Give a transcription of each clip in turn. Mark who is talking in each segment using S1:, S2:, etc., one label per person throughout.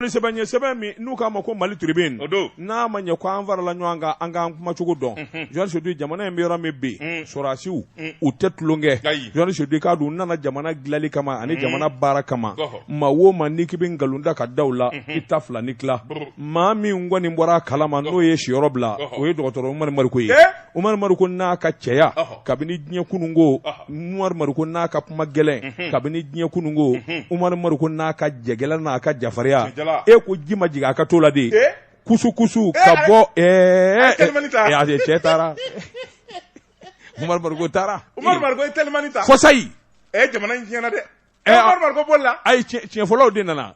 S1: sɛbɛn ye sɛbɛn min n'u k'a ma ko Mali Tribune n'a ma ɲɛ ko an farala ɲɔgɔn kan an k'an kuma cogo dɔn mhm. journaliste Sedu jamana in bɛ yɔrɔ min bi mm. sɔrɔdasiw mm. u tɛ tulonkɛ journaliste Sedu k'a dɔn u nana jamana dilanli kama ani mm. jamana baara kama maa o maa n'i k'i bɛ nkalon da k'a da u la mhm. i ta fila ni tila maa min kɔni bɔra a kalama n'o ye siyɔrɔ bila o ye dɔgɔtɔrɔ Umaru Mariko ye Umaru Mariko n'a ka cɛya kabini diɲɛ kununko Umaru Mariko n'a ka kuma gɛlɛn mhm. kabini diɲɛ kununko mhm. Umaru Mariko n'a ka jagɛlɛn n'a ka jafarinya e ko ji ma jigin a ka to la de eh? kusu kusu eh, ka bɔ eh, ɛɛ cɛ taara Umaru Mariko taara Umaru Mariko ye telimani
S2: ta kɔsayi ɛ
S1: jamana in tiɲɛna
S2: dɛ Umaru Mariko bolila ayi tiɲɛfɔlaw de
S1: nana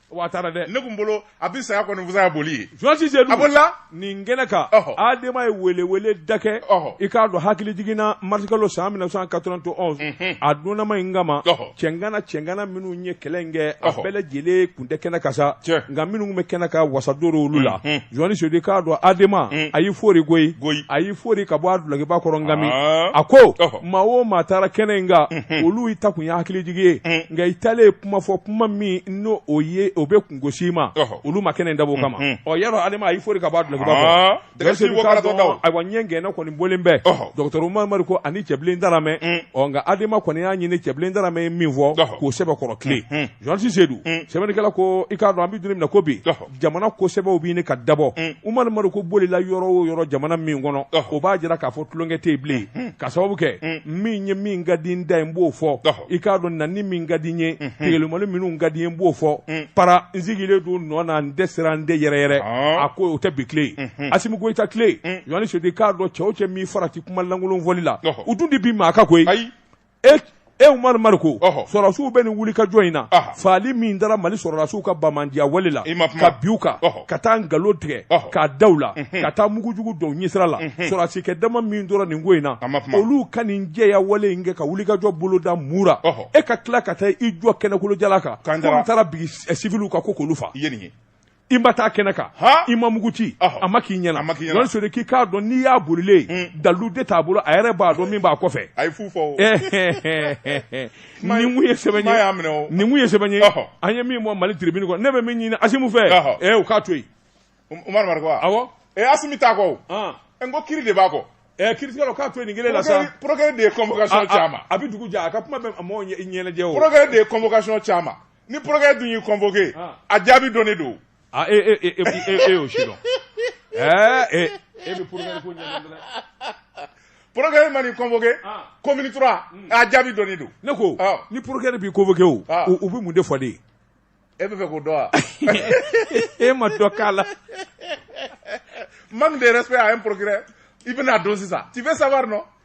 S2: Wa a taara
S1: dɛ. Ne kun bolo a bɛ
S2: saya kɔni fisaya boli ye. Journaliste Sedu. A bolila? Nin kɛnɛ
S1: kan. Ɔhɔ. Adama ye weleweleda kɛ. Ɔhɔ. I k'a dɔn hakili jiginna mars kalo san 1991. Unhun. A donnama in kama. Ɔhɔ. Cɛngana cɛngana minnu ye kɛlɛ in kɛ. Ɔhɔ. A bɛɛ lajɛlen kun tɛ kɛnɛ kan sa. Tiɲɛ. Nka minnu kun bɛ kɛnɛ kan wasa don l'o olu la. Unhun. Journaliste Sedu i k'a dɔn Adama. Un. A y'i fori goyi. Goyi. A y'i fori ka bɔ a dulokiba kɔrɔ nkami. Aa. A ko. Ɔhɔ. Maa o maa taara kɛnɛ in kan. Unhun. Olu i taakun ye hakilijigin ye. Un. Nka i taalen kuma fɔ kuma min n'o o ye o bɛ kungosi ma olu ma kɛnɛ dab'o kama o yɔrɔ Adama a y'i fori ka bɔ a dulokiba kɔrɔ ayiwa ɲɛ gɛnna kɔni bɔlen bɛ dɔgɔtɔrɔ Umaru Mariko ani Cɛbilen Daramɛ ɔ nka adama kɔni y'a ɲini Cɛbilen Daramɛ ye min fɔ ko sɛbɛkɔrɔ tile journaliste Sedu sɛbɛnnikɛla ko i k'a dɔn an bɛ don min na ko bi jamana ko sɛbɛw bɛ ɲini ka dabɔ Umaru Mariko bolila yɔrɔ o yɔrɔ jamana min kɔnɔ o b'a jira k'a fɔ tulonkɛ tɛ yen bilen ka sababu kɛ min ye min ka di n da ye n b'o fɔ i k'a dɔn na ni min ka di n ye tegelumani minnu ka di n ye n b'o fɔ para n sigilen don n nɔ na n dɛsɛra n de yɛrɛyɛrɛ a ko o tɛ bi tile ye Asimi Goyita tile journaliste Sedu k'a dɔn cɛ o cɛ min farati kuma lankolon fɔli la u dun tɛ bin maa kan koyi. e e Umaru Mariko sɔrɔdasiw bɛ nin wulikajɔ in na fagali min dara Mali sɔrɔdasiw ka banbaanciya wale la ka bin u kan ka taa nkalon tigɛ k'a da u la ka taa mugu jugu don u ɲɛsira la sɔrɔdasikɛ dama min tora nin ko in na olu ka nin jɛya wale in kɛ ka wulikajɔ boloda mun na e ka tila ka taa i jɔ kɛnɛkolo jalan kan ko n taara bin siwiliw kan ko k'olu faga i ma taa kɛnɛ kan i ma mugu ci a ma k'i ɲɛna Sedu k'i k'a dɔn n'i y'a bolilen hmm. dalu de t'a bolo a yɛrɛ b'a dɔn min b'a kɔfɛ nin ye sɛbɛn ye nin ye sɛbɛn ye an ye min bɔ Mali Tribune kɔnɔ ne bɛ min ɲini Asimi fɛ ee u k'a to yen umaru
S2: mariko awɔ ee asimi t'a kɔ n ko kiiri de b'a kɔ Eh, kiiritigɛlaw k'a to yen
S1: nin kelen la sa procureur de ye convocation
S2: caman a bɛ dugu jɛ a ka kuma
S1: bɛ mɔgɔw ɲɛnajɛ o procureur de ye convocation
S2: caman ni pkɛ dun y'i kɔnfɔke a jaabi dɔn ne don
S1: ee'o si dɔn e pkɛ
S2: man kɔnfɔke ko tora a jaabi dɔn don ne ko ni pkɛ
S1: b'i kofɔke o u bɛ mun de fɔ de ye e bɛ fɛ
S2: k'o dɔn wa e
S1: ma dɔ k'a la man
S2: de yɛrɛ a ye pkɛ i bɛna don sisan tife saba nɔ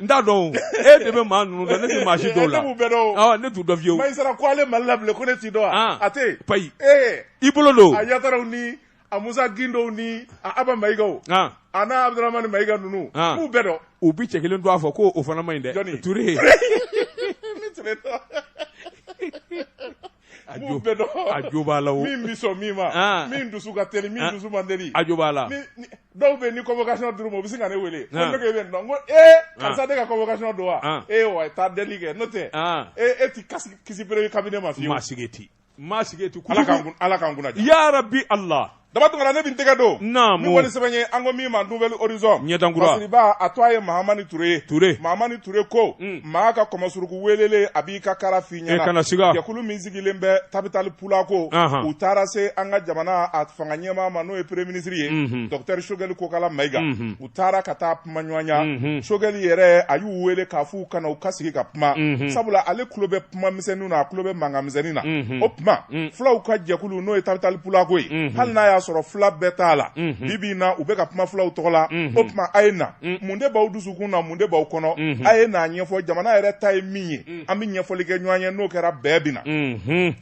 S1: N t'a dɔn e de bɛ maa ninnu dɔn ne tɛ maa si dɔn u la ne t'u dɔn fiye ko ale mali
S2: la ko ne t'i dɔn a tɛ bayi
S1: i bolo don a yataraw ni
S2: a musa gindow ni a aba mayigaw a n'a abdramani mayiga ninnu n b'u bɛɛ dɔn u bɛ cɛ kelen don a
S1: fɔ ko o fana man ɲi dɛ tu n b'u bɛɛ dɔn a jo b'a la o min bɛ sɔn min ma
S2: ah. min dusu ka teli min ah. dusu man teli a jo b'a la
S1: dɔw bɛ ni
S2: convocation dir'u ma u bɛ sin ka ne wele ko ah. ne ko e bɛ nin dɔn n ko ee karisa de ka convocation don wa ee wa taa deli kɛ n'o tɛ e e ti kasi kisi premier cabinet ma fiyewu maa
S1: sigi
S2: ti maa sigi
S1: ti
S2: ala k'an kunna ja ya
S1: rabi
S2: ala daba tunkara ne bin tɛgɛ don naamu min kɔni sɛbɛn
S1: ye an
S2: ko min ma nouvelle horizon ɲɛdankura masiribaa
S1: tɔgɔ ye
S2: mahamani ture ye ture mahamani ture ko mm. maa ka kɔmɔsuruku welele a b'i ka kara f'i ɲɛna e kana siga jɛkulu
S1: min sigilen
S2: bɛ tabitali pulako u taara se an ka jamana a fanga ɲɛmaa ma n'o ye premier ministre ye mm-hmm. docteur shogɛli kokala mayiga mm-hmm. u taara ka taa kuma ɲɔgɔnya shogɛli yɛrɛ a y'u wele k'a fɔ u ka na u ka sigi ka kuma sabula ale tulo bɛ kuma misɛnnin na a tulo bɛ mankan misɛnnin na o tuma fulaw ka jɛkulu n'o ye tabitali pulako ye hali n'a y'a sɔrɔ fula bɛɛ t'a la bi bi in na u bɛ ka kuma fulaw tɔgɔ la o tuma a ye na mun de b'aw dusukun na mun de b'aw kɔnɔ a ye n'a ɲɛfɔ jamana yɛrɛ ta ye min ye an bɛ ɲɛfɔli kɛ ɲɔgɔn ye n'o kɛra bɛɛ bɛ na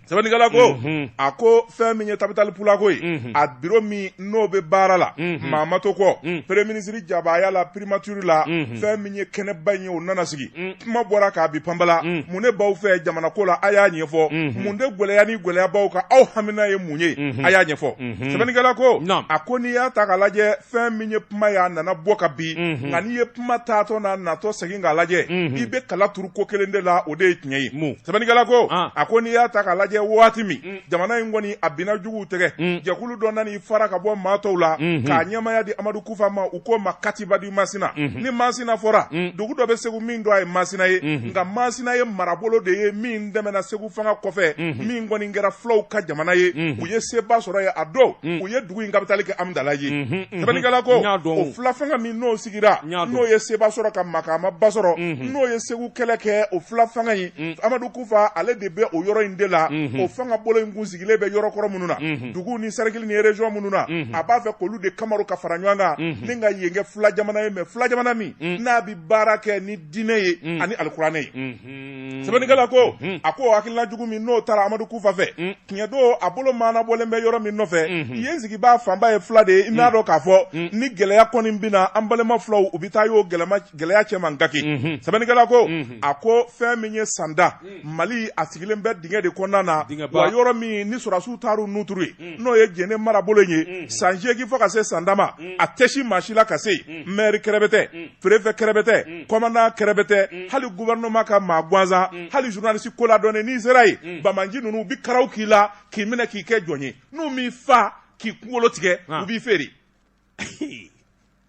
S2: Sɛbɛnnikɛla ko, unhun, a ko fɛn min ye tabitali pulako ye, unhun, a bureau min n'o bɛ baara la, unhun, maa ma to kɔ, un, premier ministre jabaaya la primature la, unhun, fɛn min ye kɛnɛba in ye o nana sigi, un, kuma bɔra ka bin panpala, un, mun de b'aw fɛ jamana ko la a y'a ɲɛfɔ, unhun, mun de gɛlɛya ni gɛlɛya b'aw kan aw hamina ye mun ye, unhun, a y'a ɲɛfɔ, unhun, sɛbɛnnikɛla ko, naamu, a ko n'i y'a ta k'a lajɛ fɛn min ye kuma ye a nana bɔ ka bin mhm. nka n'i ye kuma taatɔ n'a natɔ segin k'a lajɛ mhm. i bɛ kala turu ko kelen de la o de ye tiɲɛ ye sɛbɛnnikɛla ko ah. a ko n'i y'a ta k'a lajɛ waati min mm. jamana in kɔni a binna juguw tɛgɛ mm. jɛkulu dɔ nana i fara ka bɔ maa tɔw la mhm. k'a ɲɛmaya di amadu kufa ma u k'o ma katiba di masina ni masina fɔra mm. dugu dɔ bɛ segu min don a ye masina ye nka masina ye marabolo de ye min dɛmɛna segu fanga kɔfɛ min kɔni kɛra fulaw ka jamana ye u ye seba sɔrɔ ye a dɔn u ye dugu in kapitali kɛ amidalaye sɛbɛnnikɛla ko o fila fanga min n'o sigira n'o ye seba sɔrɔ ka makaama ba sɔrɔ n'o ye segu kɛlɛ kɛ o fila fanga in amadu kufa ale de bɛ o yɔrɔ in de la o fanga bolo in kun sigilen bɛ yɔrɔkɔrɔ minnu na dugu ni sɛrikili ni région minnu na a b'a fɛ k'olu de kamaru ka fara ɲɔgɔn kan ni ka yen kɛ fila jamana ye mais fila jamana min n'a bɛ baara kɛ diinɛ ye mm. ani alikuranɛ ye mm-hmm. sɛbɛnnikɛla ko mm-hmm. a ko hakilina jugu min n'o taara amadu kufa fɛ mm. tiɲɛ don a bolo maana bɔlen bɛ yɔrɔ min nɔfɛ mm-hmm. yen sigibaa fanba ye fula de ye i n'a mm. dɔn k'a fɔ ni gɛlɛya kɔni binna an balima fulaw u bɛ taa y'o gɛlɛya cɛman gaki sɛbɛnnikɛla ko a ko fɛn min ye sanda mali a sigilen bɛ dingɛ de kɔnɔna na wa yɔrɔ min ni sɔrɔdasiw taar'u nuturu ye n'o ye jɛnɛ marabolo in ye san seegin fo ka se san dama a tɛ si maa si la ka se mɛri kɛrɛbɛtɛ perefɛ kɛrɛbɛtɛ kɔmandan kɛrɛbɛtɛ hali gubɛrɛnɛma ka maa gansan hali zurunalisi koladɔnnen n'i sera yen banbaanci ninnu u bɛ karaw k'i la k'i minɛ k'i kɛ jɔn ye n'u m'i faa k'i kunkolo tigɛ u b'i feere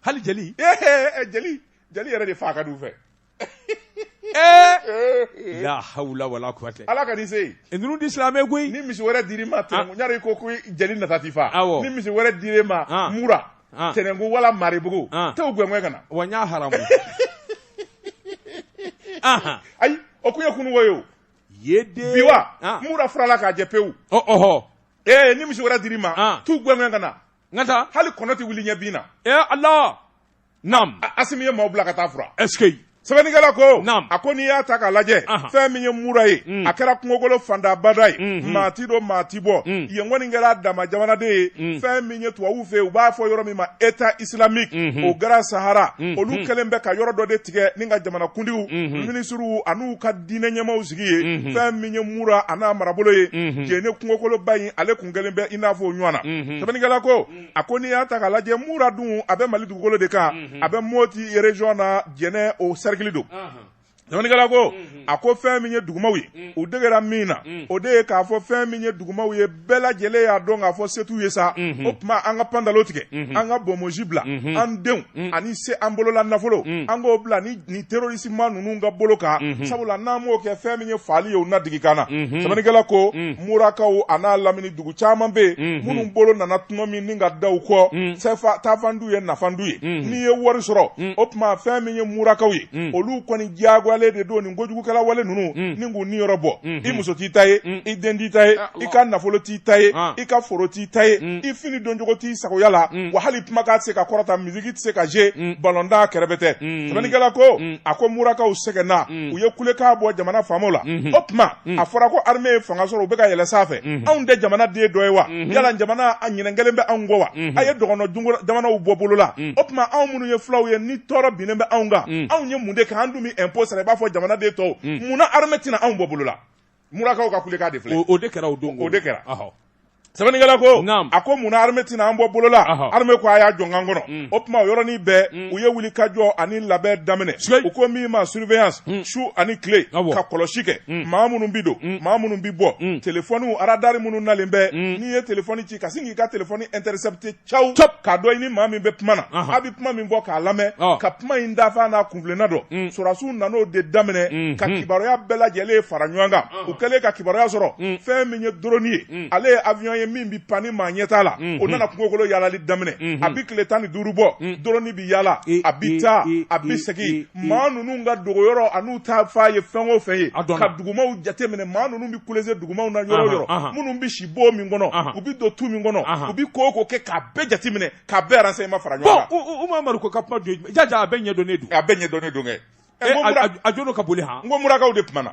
S1: hali jeli
S2: jeli jeli yɛrɛ de faa ka di u fɛ
S1: ee la hawula wala kuwatɛ ala kan'i se yen e
S2: ninnu ti silamɛ koyi
S1: ni misi wɛrɛ dir'i ma
S2: tɛnɛn ɲari ko ko jeli nata t'i faa awɔ ni misi wɛrɛ dir'e ma mura tɛnɛnku wala maribugu t'u gɛngɛ ka na wa n y'a haramu ayi o kun ye kunun ko ye o ye de bi
S1: wa mura
S2: furala k'a jɛ pewu ɔhɔ ee ni misi wɛrɛ dir'i ma t'u gɛngɛ ka na n ka taa hali
S1: kɔnɔ tɛ wuli ɲɛ bin
S2: na ee ala
S1: naam asimi ye maaw bila ka
S2: taa fura ɛseke
S1: sɛbɛnnikɛla
S2: ko a ko n'i y'a ta k'a lajɛ fɛn min ye mura ye mm. a kɛra kungokolo fantabada ye mm-hmm. maa ti don maa ti bɔ mm. yen kɔni kɛra a dama jamana de ye mm. fɛn min ye tubabuw fɛ yen u b'a fɔ yɔrɔ min ma état islamique mm-hmm. au grand sahara mm-hmm. olu kɛlen bɛ ka yɔrɔ dɔ de tigɛ ni ka jamanakuntigiw minisiriw an'u ka diinɛ ɲɛmaaw sigi yen fɛn min ye mura a n'a marabolo ye jɛnɛ kungokoloba in ale kun kɛlen bɛ i n'a fɔ o ɲɔgɔn na sɛbɛnnikɛla ko a ko n'i y'a ta k'a lajɛ mura dun a bɛ mali dugukolo de kan mhm. a bɛ moti région na jɛnɛ o sɛrikili don sɛbɛnnikɛla ko mhm. a ko fɛn min ye dugumaw ye mhm. u degera min na o de ye k'a fɔ fɛn min ye dugumaw ye bɛɛ lajɛlen y'a dɔn k'a fɔ se t'u ye sa o tuma an ka pandalo tigɛ an ka bonmosi bila an denw ani se an bolola nafolo an k'o bila ni nin terrorisme ninnu ka bolo kan sabula n'an m'o kɛ fɛn min ye faali ye u na digi k'an na sɛbɛnnikɛla ko murakaw an'a lamini dugu caman bɛ yen minnu bolo nana tuma min ni ka da u kɔ taafan t'u ye nafan t'u ye n'i ye wari sɔrɔ o tuma fɛn min ye murakaw ye olu kɔni diyagoyalen de don nin kojugukɛla wale ninnu ni k'u niyɔrɔ bɔ i muso t'i ta ye i den t'i ta ye i ka nafolo t'i ta ye i ka foro t'i ta ye i fini doncogo t'i sagoya la wa hali kumakan tɛ se ka kɔrɔta misiki tɛ se ka zuwe balɔntan kɛrɛbɛtɛ sɛbɛnnikɛla ko a ko murakaw sɛgɛnna u ye kulekan bɔ jamana faamaw la o tuma a fɔra ko armée ye fanga sɔrɔ u bɛ ka yɛlɛ sanfɛ anw tɛ jamana den dɔ ye wa yala jamana a ɲinɛ kɛlen bɛ anw kɔ wa a ye dɔgɔnɔ jamanaw bɔ bolo la o tuma anw minnu ye fulaw ye ni tɔɔrɔ binnen bɛ anw kan anw ye mun de kɛ an dun bɛ impôt sara i b'a fɔ jamana den tɔw munna armée tɛ na anw bɔ
S1: bolo
S2: la murakaw ka kulekan de filɛ o de kɛra o don o de kɛra sɛbɛnnikɛla ko a ko mun na armée tɛna an bɔ bolo la armée ko a y'a jɔ k'an kɔnɔ mm. o tuma o yɔrɔnin bɛɛ mm. u ye wuli ka jɔ ani labɛn daminɛ u ko min ma surveillance mm. su ani tile ka kɔlɔsi kɛ maa minnu bɛ don maa minnu bɛ bɔ telefɔniw radari minnu nalen bɛ n'i ye telefɔni ci ka sin k'i ka telefɔni intercepter caw Top k'a dɔn i ni maa min bɛ kuma na Ahan. a bɛ kuma min fɔ k'a lamɛn Ɔ. ka kuma in dafan n'a kunfilenna dɔn Mm. sɔrɔdasiw nan'o de daminɛ Mm, ka mm. kibaruya bɛɛ lajɛlen fara ɲɔgɔn kan Ɔn. u kɛlen ka kibaruya sɔrɔ Mm. fɛn min ye doroni ye Mm. ale ye avion ye min bɛ pan ni maa ɲɛ t'a la Mm, o nana kungokolo yaalali daminɛ Mhm. a bɛ tile tan ni duuru bɔ Mm. doroni bɛ yaala a bɛ taa a bɛ segin maa ninnu ka dogoyɔrɔ an'u taafan ye fɛn o fɛn ye A dɔnna. ka dugumaw jateminɛ maa ninnu bɛ kulese dugumaw na yɔrɔ o Ahan, yɔrɔ ahan. minnu bɛ si bon min kɔnɔ Ahan. u bi don tu min kɔnɔ Ahan. u bi ko o ko kɛ k'a bɛɛ jateminɛ k'a bɛɛ renseignement fara ɲɔgɔn kan bon u- u- Umaru ko ka kuma
S1: don jaja a bɛɛ ɲɛdɔnnen don a bɛɛ ɲɛdɔnnen don kɛ
S2: Eh, Ɛ, n ko a- mura- a- a jono
S1: ka boli han n ko murakaw de kumana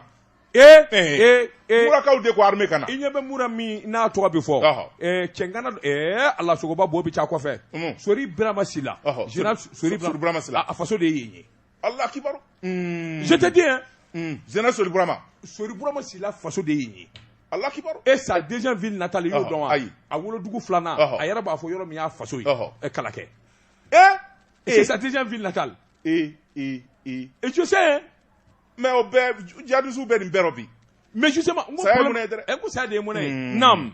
S2: ee Eh. ee ee murakaw de ko armée kana i ɲɛ bɛ mura
S1: min n'a tɔgɔ bɛ fɔ Ɔhɔ. ɛɛ cɛŋana don ɛɛ ala sogoba bo bɛ ca kɔfɛ Unhun. sori birama sila Ɔhɔ. Général Sori- sori Sori Birama Sila. a- a faso de
S2: ye yen ye
S1: Alahu
S2: akibaru, unn, je te
S1: dis hein, unn, Zɛnɛ Sori
S2: Burama, Sori Burama
S1: sila faso de ye yen ye, Alahu akibaru, et sa
S2: deuxième ville
S1: natale i y'o Ɔhɔ, dɔn wa? ayi. a wolodugu filanan Ɔhɔ. a yɛrɛ b'a fɔ yɔrɔ min y'a faso ye Ɔhɔ. ɛ, Kalakɛ ee, c'est ee, sa deuxième ville natale ee,
S2: ee, ee,
S1: et je sais hein, mais o bɛɛ
S2: jihadisiw bɛ nin bɛɛ rɔ bi, mais justement n ko Saya
S1: ye problème- mɔnɛ ye dɛrɛ. ɛ, n ko saya de ye mɔnɛ ye, unn, naam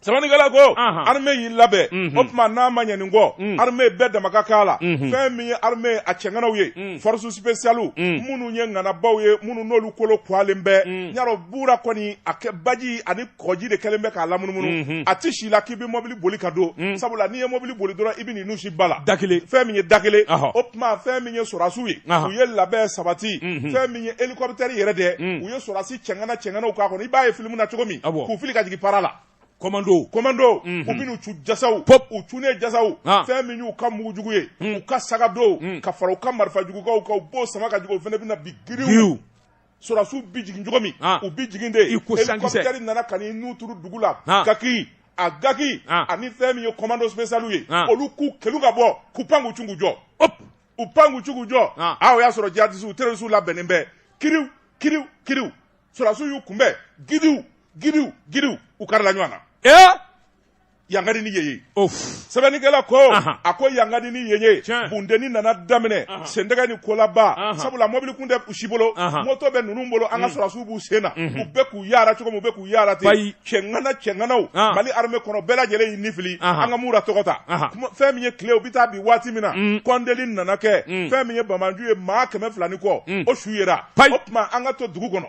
S2: Sɛbɛnnikɛla ko armée y'i labɛn o tuma n'a ma ɲɛ nin kɔ armée bɛɛ dama ka k'a la fɛn min ye armée a cɛŋanaw ye force spéciale minnu ye ŋanabaw ye minnu n'olu kolo kɔgɔlen bɛ ɲa rɔ Mura kɔni a kɛ baji ani kɔji de kɛlen bɛ k'a lamunumunu a tɛ si la k'i bɛ mɔbili boli ka don sabula n'i ye mɔbili boli dɔrɔn i bɛ nin nun su ba la da kelen fɛn min ye da
S1: kelen
S2: tuma fɛn min ye sɔrɔdasiw ye u ye labɛn sabati fɛn min ye hélicoptère yɛrɛ dɛ u ye sɔrɔdasi cɛŋana cɛŋanaw k'a kɔnɔ i b'a ye film na cogo min k'u fili ka jigin para la commando commando u bin'u cun jasaw pop u cunnen jasaw fɛn min y'u ka mugu jugu ye u ka sac à dos ka fara u ka marifa jugukaw kan u b'o sama ka jigin o fɛnɛ bɛna bin giriw sɔrɔsiw bi jigin cogo min u bi jigin de hélicoptère nana ka n'i nun turu dugu la gaki a gaki ani fɛn min ye commando spécial ye olu k'u kelu ka bɔ k'u pan k'u cun k'u jɔ u pan k'u cun k'u jɔ a o y'a sɔrɔ jihadisiw terrorisiw labɛnnen bɛ kiriw kiriw kiriw sɔrɔsiw y'u kunbɛn gidiw gidiw gidiw u karila ɲɔgɔn na yangadi ni yeye sɛbɛnnikɛla ko a ko yangadi ni yeye bundeni nana daminɛ sendɛgɛ ni kolaba sabula mɔbili kun tɛ si bolo moto bɛ ninnu bolo an ka mm. sɔrɔsiw b'u sen na mm-hmm. u bɛɛ k'u yara cogo min u bɛ k'u yara ten cɛŋana cɛŋanaw mali armée kɔnɔ bɛɛ lajɛlen y'i nifili an ka Mura tɔgɔ ta fɛn min ye tile u bɛ taa bin waati min na mm. kɔnteli nana kɛ mm. fɛn min ye bamanju ye maa kɛmɛ fila ni kɔ o su yera o tuma an ka to dugu kɔnɔ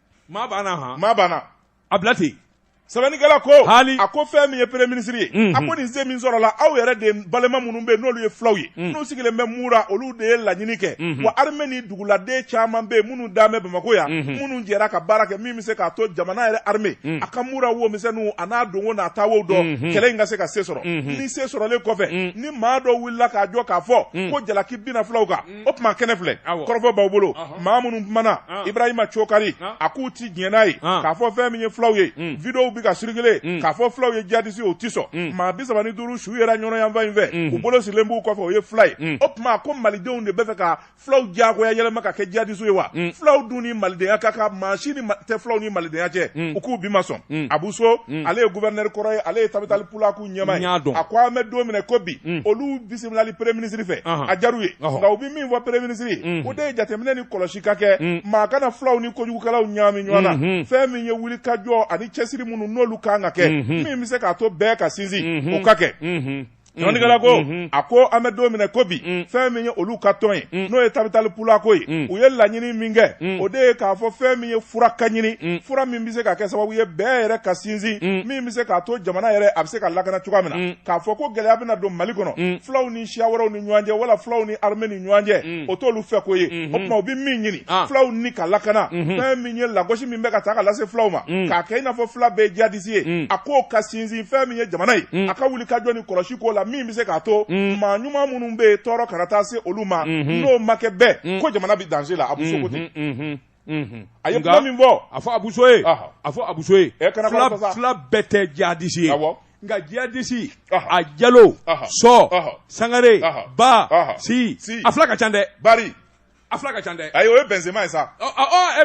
S1: maa banna han maa
S2: banna a bila
S1: ten sɛbɛnnikɛla
S2: ko hali a ko fɛn min ye premier ministre ye a ko nin se min sɔrɔla aw yɛrɛ de balima minnu bɛ n'olu ye fulaw ye n'u sigilen bɛ mura olu de ye laɲini kɛ wa armée ni duguladen caman bɛ minnu dalen bɛ bamakɔ yan minnu jɛra ka baara kɛ min bɛ se k'a to jamana yɛrɛ armée a ka mura wo misɛnninw a n'a donwo n'a taawo dɔn kɛlɛ in ka se ka se sɔrɔ ni se sɔrɔlen kɔfɛ ni maa dɔ wulila k'a jɔ k'a fɔ ko jalaki binna fulaw kan o tuma kɛnɛ filɛ kɔrɔfɔ b'aw bolo maa minnu kumana ibrahima cokari a k'u ti diɲɛ n'a ye k'a fɔ fɛn min ye fulaw ye mm. videow bɛ ka circuler mm. k'a fɔ fulaw ye jadisi ye o ti sɔn mm. maa bi saba ni duuru su yera ɲɔnɔ yanfan in fɛ u bolo sirilen b'u kɔfɛ o ye fula ye o tuma ko malidenw de bɛ fɛ ka fulaw diyagoya yɛlɛma ka kɛ jadisi ye wa fulaw dun ni malidenya ka kan maa si tɛ fulaw ni malidenya cɛ u k'u bi ma sɔn abu so ale ye guvɛrinɛri kɔrɔ ye ale ye tabitali pulaku ɲɛmaa ye a ko an bɛ don min na i ko bi mm. olu bisimilali premier ministre fɛ a diyar'u ye nka u bɛ min fɔ premier ministre ye mm. o de ye jateminɛ ni kɔlɔsi ka kɛ mm. maa kana fulaw ni kojugukɛlaw ɲaami ɲɔgɔn na mm-hmm. fɛn min ye wuli ka jɔ ani cɛsiri minnu n'olu kan ka kɛ mm-hmm. min bɛ se k'a to bɛn ka sinsin mm-hmm. o ka kɛ sɛbɛnnikɛla ko a ko an bɛ don min na i ko bi fɛn min ye olu ka tɔn ye n'o ye tabitali pulaku ye u ye laɲini min kɛ o de ye k'a fɔ fɛn min ye fura ka ɲini fura min bɛ se ka kɛ sababu ye bɛn yɛrɛ ka sinsin min bɛ se k'a to jamana yɛrɛ a bɛ se ka lakana cogoya min na mm. k'a fɔ ko gɛlɛya bɛna don mali kɔnɔ mm. fulaw ni siya wɛrɛw ni ɲɔgɔn cɛ wala fulaw ni armée ni ɲɔgɔn cɛ mm. o t'olu fɛ ko ye o mm-hmm. tuma u bɛ min ɲini ah. fulaw ni ka lakana mm-hmm. fɛn min ye lagosi min bɛ ka taa ka lase fulaw ma k'a kɛ i n'a fɔ fula bɛɛ ye jihadisi ye a k'o ka sinsin fɛn min ye jamana ye a ka wuli ka jɔ ni kɔlɔsi k'o la min bɛ se k'a to maa ɲuman minnu bɛ yen tɔɔrɔ kana taa se olu ma mm-hmm. n'o ma kɛ bɛɛ ko jamana bɛ danger la abu so ko ten a ye kuma min fɔ a fɔ abu so
S1: ye a fɔ abu so ye fila bɛɛ tɛ jadisi ye nka jadisi a jalo so sangare ba si a fila ka ca dɛ bari
S2: a fila ka ca
S1: dɛ ayi o ye benzema ye sa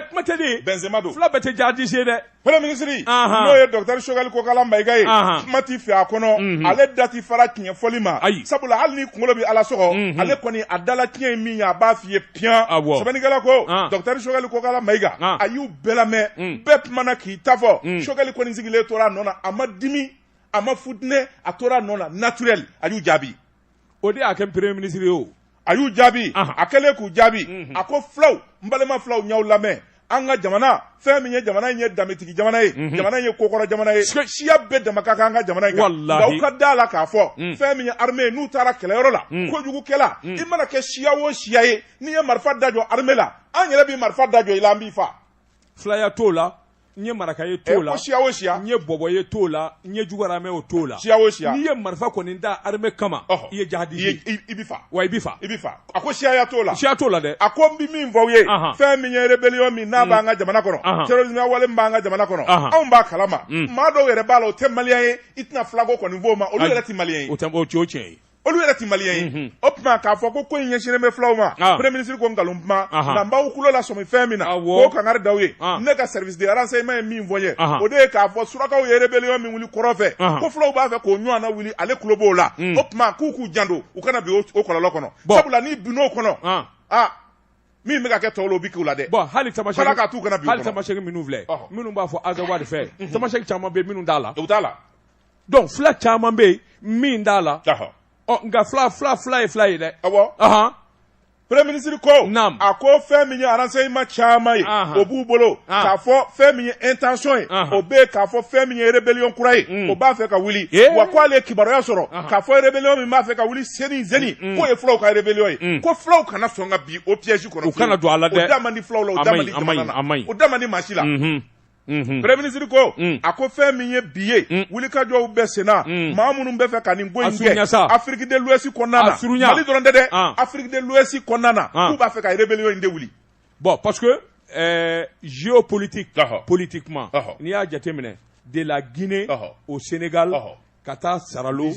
S2: kuma tɛ
S1: benzema don fila bɛɛ tɛ
S2: jadisi ye
S1: dɛ Premier ministre Anhan
S2: n'o ye docteur Choguel Kokala Mayiga ye Anhan kuma t'i fɛ a kɔnɔ unhun ale da ti fara tiɲɛ fɔli ma ayi sabula hali n'i kuŋolo be Ala sɔgɔ unhun ale kɔni a dala tiɲɛ ye min ye a b'a f'i ye piyan awɔ sɛbɛnnikɛla ko an docteur Choguel Kokala Mayiga an a y'u bɛɛ lamɛ un bɛɛ kumana k'i ta fɔ un Choguel kɔni sigilen tor'a nɔ na a ma dimi a ma futune a tor'a nɔ na naturel a y'u jaabi o de y'a
S1: kɛ premier ministre ye o a y'u
S2: jaabi a kɛlen k'u jaabi mhm. a ko fulaw n balima fulaw n y'aw lamɛn an ka jamana fɛn min ye jamana in ye danbetigi jamana ye mhm. jamana in ye kokɔrɔ jamana ye siya bɛɛ dama ka kan an ka jamana in kan nka aw ka da la k'a fɔ mhm. fɛn min ye armée n'u taara kɛlɛyɔrɔ la kojugukɛla i mana kɛ siya o siya ye n'i ye marifa da jɔ armée la an yɛrɛ bɛ marifa da jɔ i la an b'i fa filaya t'o la
S1: n ye maraka ye t'o la siya o siya n ye
S2: bɔbɔ ye
S1: t'o la n ye juguramɛ o t'o la siya o siya n'i ye
S2: marifa kɔni da
S1: armée kama i ye jahadi ye i bɛ fa wa i bɛ
S2: fa i bɛ fa
S1: a ko siyaya t'o
S2: la siya t'o la dɛ a ko n
S1: bɛ min fɔ aw
S2: ye fɛn min ye rébellion min n'a b'an ka jamana kɔnɔ terrorisme wale min b'an ka jamana kɔnɔ anw b'a kalama maa dɔw yɛrɛ b'a la o tɛ maliyɛn ye i tɛna filako kɔni f'o ma olu yɛrɛ tɛ maliyɛn ye o tɛ o tiɲɛ ye
S1: olu yɛrɛ ti maliyɛn
S2: ye mhm. o tuma k'a fɔ ko ko in ɲɛsinnen bɛ fulaw ma ah. premier ministre ko nkalon kuma nka n b'aw kulo lasɔmi fɛn min na k'o kangari d'aw ye ah. ne ka service de renseignement ye min fɔ n ye o de ye k'a fɔ surakaw ye rébellion min wuli kɔrɔ fɛ ko fulaw b'a fɛ k'o ɲɔgɔnna wuli ale kulo b'o la mm. o tuma k'u k'u janto u kana bi o kɔlɔlɔ kɔnɔ sabula n'i binn'o kɔnɔ ah. a min bɛ ka kɛ tɔw la o bɛ k'u la dɛ. bɔn hali tamasɛki b'a la k'a t'u kana
S1: bi o kɔnɔ hali tamasɛki minnu filɛ minnu b'a fɔ azawadi fɛ tamasɛki caman bɛ minnu t'a la. o t'a la.
S2: donc
S1: fila caman bɛ yen min t'a la nka fila fila fila ye fila ye dɛ
S2: awɔ premier ministre ko a ko fɛn min ye renseignement caman ye o b'u bolo k'a fɔ fɛn min ye intention ye o bɛ k'a fɔ fɛn min ye rébellion kura ye o b'a fɛ ka wuli wa ko ale ye kibaruya sɔrɔ k'a fɔ rébellion min b'a fɛ ka wuli seni seni k'o ye fulaw ka rébellion ye ko fulaw kana sɔn ka bi o piège kɔnɔ u kana don a la dɛ o da
S1: man di fulaw la o
S2: da man di jamana na o da man di maa si la. premier ministre ko mm. a ko fɛn min ye bi ye mm. wulikajɔw bɛ senna mm. maa minnu bɛ fɛ ka nin ko in kɛ Afrique de l'Ouest kɔnɔna na mali dɔrɔn tɛ dɛ ah. Afrique de l'Ouest kɔnɔna na ah. k'u b'a fɛ ka rébellion in de wuli bon parce
S1: que euh, géopolitique politiquement n'i y'a jateminɛ de la Guinée au Sénégal ka taa Saralo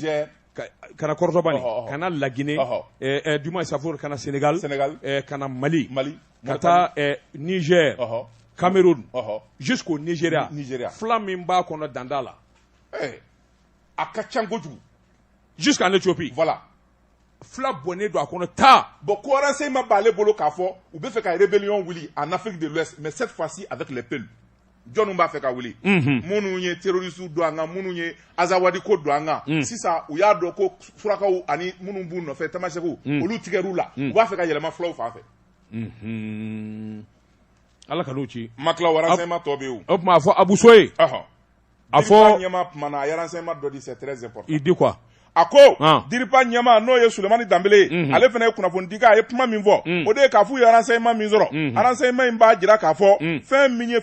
S1: ka na Kɔrɔtɔbani ka na la Guinée eh, eh, duma safor ka na Sénégal Sénégal eh, ka na Mali Mali ka taa Niger Cameroun jusqu'au Nigeria fila min b'a kɔnɔ dan t'a
S2: la a ka ca kojugu jusqu'en Éthiopie voilà fila
S1: bɔnnen don a kɔnɔ taa bon ko renseignement
S2: b'ale bolo k'a fɔ u bɛ fɛ ka rébellion wuli en Afrique de l'Ouest mais cette fois-ci avec les peuls jɔnni b'a fɛ ka wuli minnu ye terroristes don an kan minnu ye azawadi ko don an kan sisan u y'a dɔn ko surakaw ani minnu b'u nɔfɛ tamasɛkiw olu tigɛr'u la u b'a fɛ ka yɛlɛma fulaw fan fɛ
S1: Ala ka ci ma tila wararanma tɔ bɛ
S2: o tuma fɔ abuso ye
S1: a fɔ ɲɛma
S2: dɔ di di kuwa a
S1: ko di
S2: ɲɛma n'o ye somani danb ale fana ye kunnafoni di a ye kuma min fɔ o de k'a fɔ araranma min sɔrɔ araranma in b'a jira k'a fɔ fɛn min ye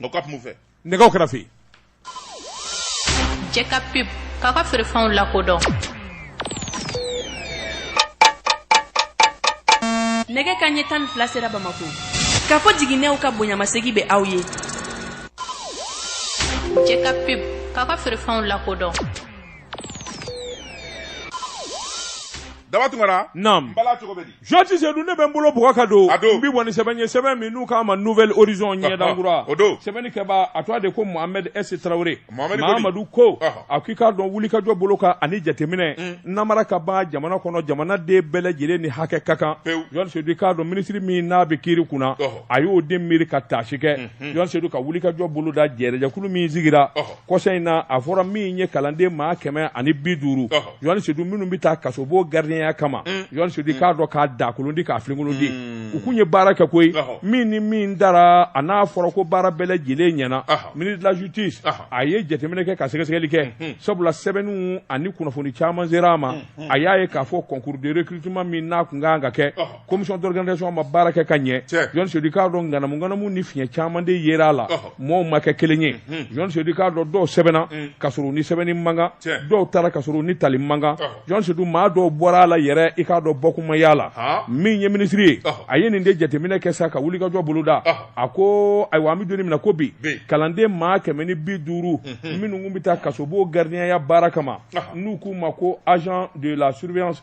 S1: Nka ka kun
S2: fɛ nɛgɛ kɛrɛfɛ
S3: jɛ ka pub k'a ka feerefɛnw lakodɔn nɛgɛ kanɲɛ tan ni fila sera Bamakɔ Kafo Jiginɛw ka bonyamasegin bɛ aw ye jɛ ka pub k'a ka feerefɛnw lakodɔn
S2: daba tunkara naamu bala
S1: cogo bɛ di jɔnti
S2: sedu ne bɛ
S1: n bolo bug ka don n bɛ bɔ ni sɛbɛn ye sɛbɛn min n'u k'a ma nouvelle horizon ɲɛdankura o don sɛbɛnnikɛba a tɔgɔ de ko mohamed s traoré mamadu ko a k'i k'a dɔn wulikajɔ bolo kan ani jateminɛ mm. namara ka ban jamana kɔnɔ jamanaden bɛɛ lajɛlen ni hakɛ ka kan jɔn sedu k'a dɔn minisiri min n'a bɛ kiri kunna a y'o de miiri ka taasi kɛ mm-hmm. jɔn sedu ka wulikajɔ boloda jɛrɛjɛkulu min sigira kɔsa in na a fɔra min ye kalanden maa kɛmɛ ani bi duuru Jɔn Sedu minnu bɛ taa kasobon gardienya kama mm. Jɔn Sedu mm. k'a dɔn k'a dakolon ti k'a filenkolon ti mm. u kun ye baara kɛ koyi min ni min dara a n'a fɔra ko baara bɛɛ lajɛlen ɲɛna ministre de la justice a ye jateminɛ kɛ ka sɛgɛsɛgɛli kɛ mm-hmm. sabula sɛbɛnniw ani kunnafoni caman sera a ma mm-hmm. a y'a ye k'a fɔ concours de recrutement min n'a kun ka kan ka kɛ commission d'organisation ma baara kɛ ka ɲɛ jɔn sedu k'a dɔn ŋanamuŋanamu ni fiɲɛ caman de yera a la mɔɔw ma kɛ kelen ye jɔn sedu i k'a dɔn dɔw sɛbɛnna mm. ka sɔrɔ ni sɛbɛnni man kan dɔw taara ka sɔrɔ ni tali man kan jɔn sedu maa dɔw bɔra a la yɛrɛ i k'a dɔn bɔkun ma y'a la min ye minisiri ye a ye nin de jateminɛ kɛ sa ka wulikajɔ boloda a ko ayiwa an bɛ don in min na ko bi kalanden maa kɛmɛ ni bi duuru mm-hmm. minnu kun bɛ taa kasobon garidiɲɛya baara kama n'u k'u ma ko agent de la surveillance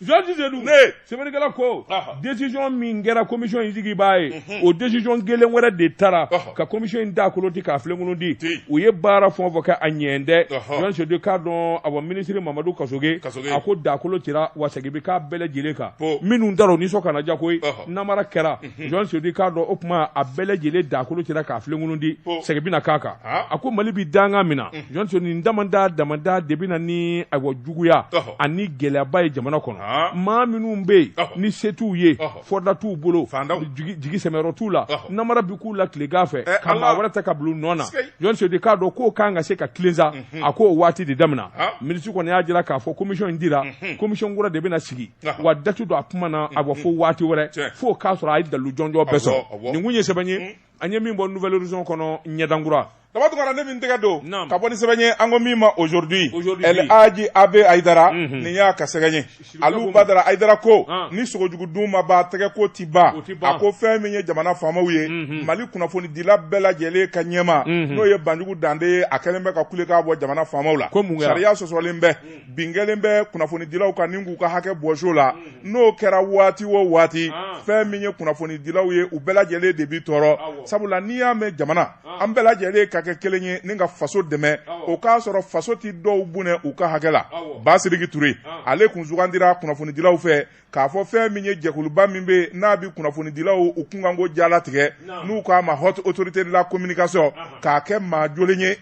S2: Jɔnti sedu
S1: sɛbɛnnikɛla ko desisɔn min kɛra komisɔn in sigiba ye o desisɔn kelen wɛrɛ de taara ka komisɔn in dakolon ti k'a filenkolon ti u ye baara fɔ fɔ kɛ a ɲɛ dɛ jɔn sedu k'a dɔn awa minisiri mamadu kasoge a ko dakolon tira wa segin bɛ k'a bɛɛ lajɛlen kan minnu taara u nisɔn kana diya koyi namara kɛra jɔn sedu k'a dɔn o tuma a bɛɛ lajɛlen dakolon tira k'a filenkolon ti segin bɛna k'a kan a ko mali bɛ dankan min na jɔn sedu nin damada damada de bɛ na ni ayiwa juguya ani gɛlɛyaba ye jamana kɔnɔ maa minnu bɛ yen ni se t'u ye fɔda t'u bolo jigi sɛmɛyɔrɔ t'u la namara bɛ k'u la tilegan fɛ ka maa wɛrɛ ta ka bila u nɔ na jɔn sedu k'a dɔn k'o kan ka se ka tilen sa a k'o waati de daminɛ minisiri kɔni y'a jira k'a fɔ komisɔn in tira komisɔn kura de bɛna sigi wa da tɛ don a kuma na a bɔ fo waati wɛrɛ fo k'a sɔrɔ a ye dalu jɔnjɔ bɛɛ sɔrɔ nin kun ye sɛbɛn ye mm. an ye min bɔ nouvelle horizon kɔnɔ ɲɛdankura daba tunkara ne bɛ
S2: n tɛgɛ don ka bɔ ni sɛbɛn ye an ko min ma aujourd'hui el aji abe ayidara mhm. nin y'a ka sɛgɛn ye alu badara ayidara ko ah. ni sogo jugu dun ma ba tɛgɛ ko ti ban a ko fɛn min ye jamana faamaw ye mhm. mali kunnafonidila bɛɛ lajɛlen ka ɲɛmaa mhm. n'o ye banjugu dante ye a kɛlen bɛ ka kule k'a bɔ jamana faamaw la sariya sɔsɔlen bɛ bin kɛlen bɛ kunnafonidilaw kan ni k'u ka hakɛ bɔs'u la n'o kɛra waati o waati fɛn min ye kunnafonidilaw ye u bɛɛ lajɛlen de bɛ tɔɔrɔ sabula n'i y'a mɛn jamana an bɛɛ lajɛlen ka kɛ kelen ye ni ka faso dɛmɛ o k'a sɔrɔ faso tɛ dɔw bonya u ka hakɛ la basiriki ture ale kun sugandira kunnafonidilaw fɛ k'a fɔ fɛn min ye jɛkuluba min bɛ n'a bɛ kunnafonidilaw u kunkanko jalatigɛ n'u k'a ma haute autorité de la communication k'a kɛ maa joli ye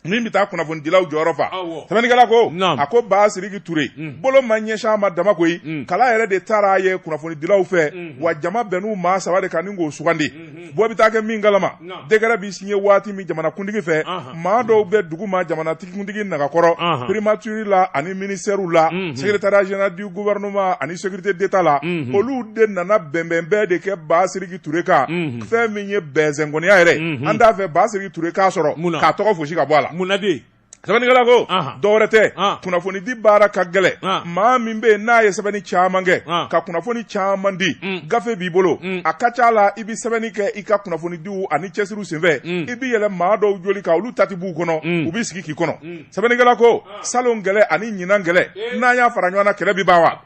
S2: min bɛ taa kunnafonidilaw jɔyɔrɔ fa sɛbɛnnikɛla ko a ko basiriki ture mm. bolo ma ɲɛsin a ma dama koyi mm. kala yɛrɛ de tara a ye kunnafonidilaw fɛ mm-hmm. wa jama bɛnna maa saba de kan ni k'o sugandi mm-hmm. bɔ bɛ taa kɛ min kalama décret bɛ siɲɛ waati min jamanakuntigi fɛ maa dɔw bɛ duguma jamanatikuntigi nagakɔrɔ primature la ani ministère la mm-hmm. secrétariat général du gouvernement ani sécurité d'état la olu de nana bɛnbɛnbɛn de kɛ basiriki Ture kan fɛn min ye bɛnzɛnkɔniya yɛrɛ an t'a fɛ Basiriki Ture k'a sɔrɔ k'a tɔgɔ fosi ka bɔ a la mun na
S1: de sɛbɛnnikɛla
S2: ko dɔwɛrɛ tɛ kunnafonidi baara ka gɛlɛn maa min bɛ yen n'a ye sɛbɛnni caman kɛ ka kunnafoni caman di gafe b'i bolo a ka c'a la i bɛ sɛbɛnni kɛ i ka kunnafonidiw ani cɛsiriw senfɛ i bɛ yɛlɛn maa dɔw joli kan olu ta tɛ b'u kɔnɔ u b'i sigi k'i kɔnɔ sɛbɛnnikɛla ko salon kɛlɛ ani ɲinan kɛlɛ n'an y'a fara ɲɔgɔn kan kɛlɛ bɛ ban wa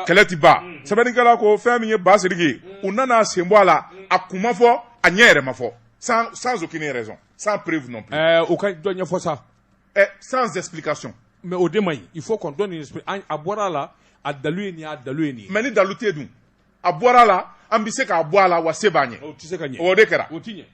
S2: kɛlɛ tɛ ban sɛbɛnnikɛla ko fɛn min ye Basiriki ye u nan'a sen bɔ a la a kun ma fɔ a ɲɛ yɛrɛ ma fɔ sans sans aucune
S1: raison sans
S2: preuve non plus ɛɛ
S1: o ka
S2: dɔ ɲɛfɔ sa ɛ sans
S1: explication
S2: mais
S1: o de man ɲi il faut qu'on donne une explication an a bɔra a la a dalu ye nin ye a dalu ye nin ye mais ni dalu tɛ yen
S2: dun a bɔra a la an bɛ se k'a bɔ a la wa se b'an ye o tɛ se ka ɲɛ o de kɛra
S1: o tɛ ɲɛ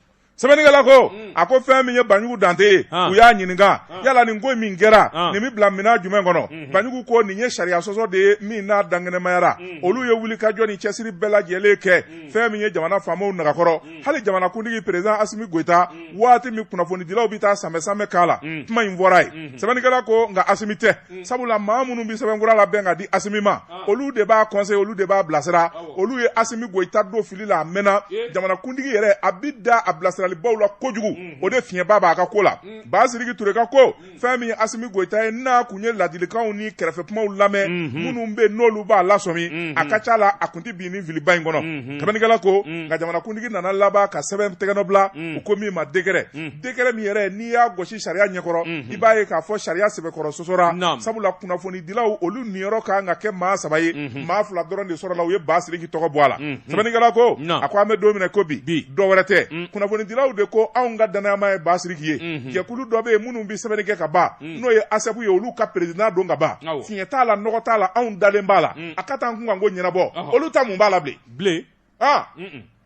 S1: sɛbɛnnikɛla ko
S2: hmm. a ko fɛn min ye banjugu dante ye u y'a ɲininka yala nin ko min kɛra nin bɛ bila minɛn jumɛn kɔnɔ hmm. banjugu ko nin ye sariya sɔsɔ de ye min n'a dankɛnɛmayara hmm. olu ye wulikajɔ ni cɛsiri bɛɛ lajɛlen kɛ fɛn min ye jamana faamaw nagakɔrɔ hali jamanakuntigi perezidan asimi goyita waati min kunnafonidilaw bɛ taa sanbɛsanbɛ k'a la kuma in fɔra yen sɛbɛnnikɛla ko nka asimi tɛ Mm. sabula maa minnu bɛ sɛbɛn kura labɛn ka di asimi ma ah. olu de b'a conseiller olu de b'a bilasira olu ye asimi goyita don fili la a mɛnna jamanakuntigi yɛrɛ a bi da a bilasiralibaw la kojugu mm. o de fiɲɛba b'a ka ko la mm. basiriki ture ka ko fɛn min ye asimi goyita ye n'a kun ye ladilikanw ni kɛrɛfɛ kumaw lamɛn mm-hmm. minnu bɛ n'olu b'a lasɔmi mm-hmm. a ka ca la a kun tɛ bin ni filiba in kɔnɔ mm-hmm. sɛbɛnnikɛla ko nka jamanakuntigi nana laban ka sɛbɛn tɛgɛnɔ bila u ko min ma décret décret min yɛrɛ n'i y'a gosi sariya ɲɛkɔrɔ i b'a ye k'a fɔ sariya sɛbɛkɔrɔ sɔsɔra sabula kunnafonidilaw olu niyɔrɔ ka kan ka kɛ maa saba ye maa fila dɔrɔn de sɔrɔla u ye Basiriki tɔgɔ bɔ a la sɛbɛnnikɛla ko a ko an bɛ don min na i ko bi dɔ wɛrɛ tɛ kunnafonidilaw de ko anw ka dannayamaa ye Basiriki ye jɛkulu dɔ bɛ yen minnu bɛ sɛbɛnni kɛ ka ban n'o ye ASSEP ye olu ka perezidan don ka ban fiɲɛ t'a la nɔgɔ t'a la anw dalen b'a la a ka t'an kunkanko ɲɛnabɔ olu ta mun b'a la bilen. aa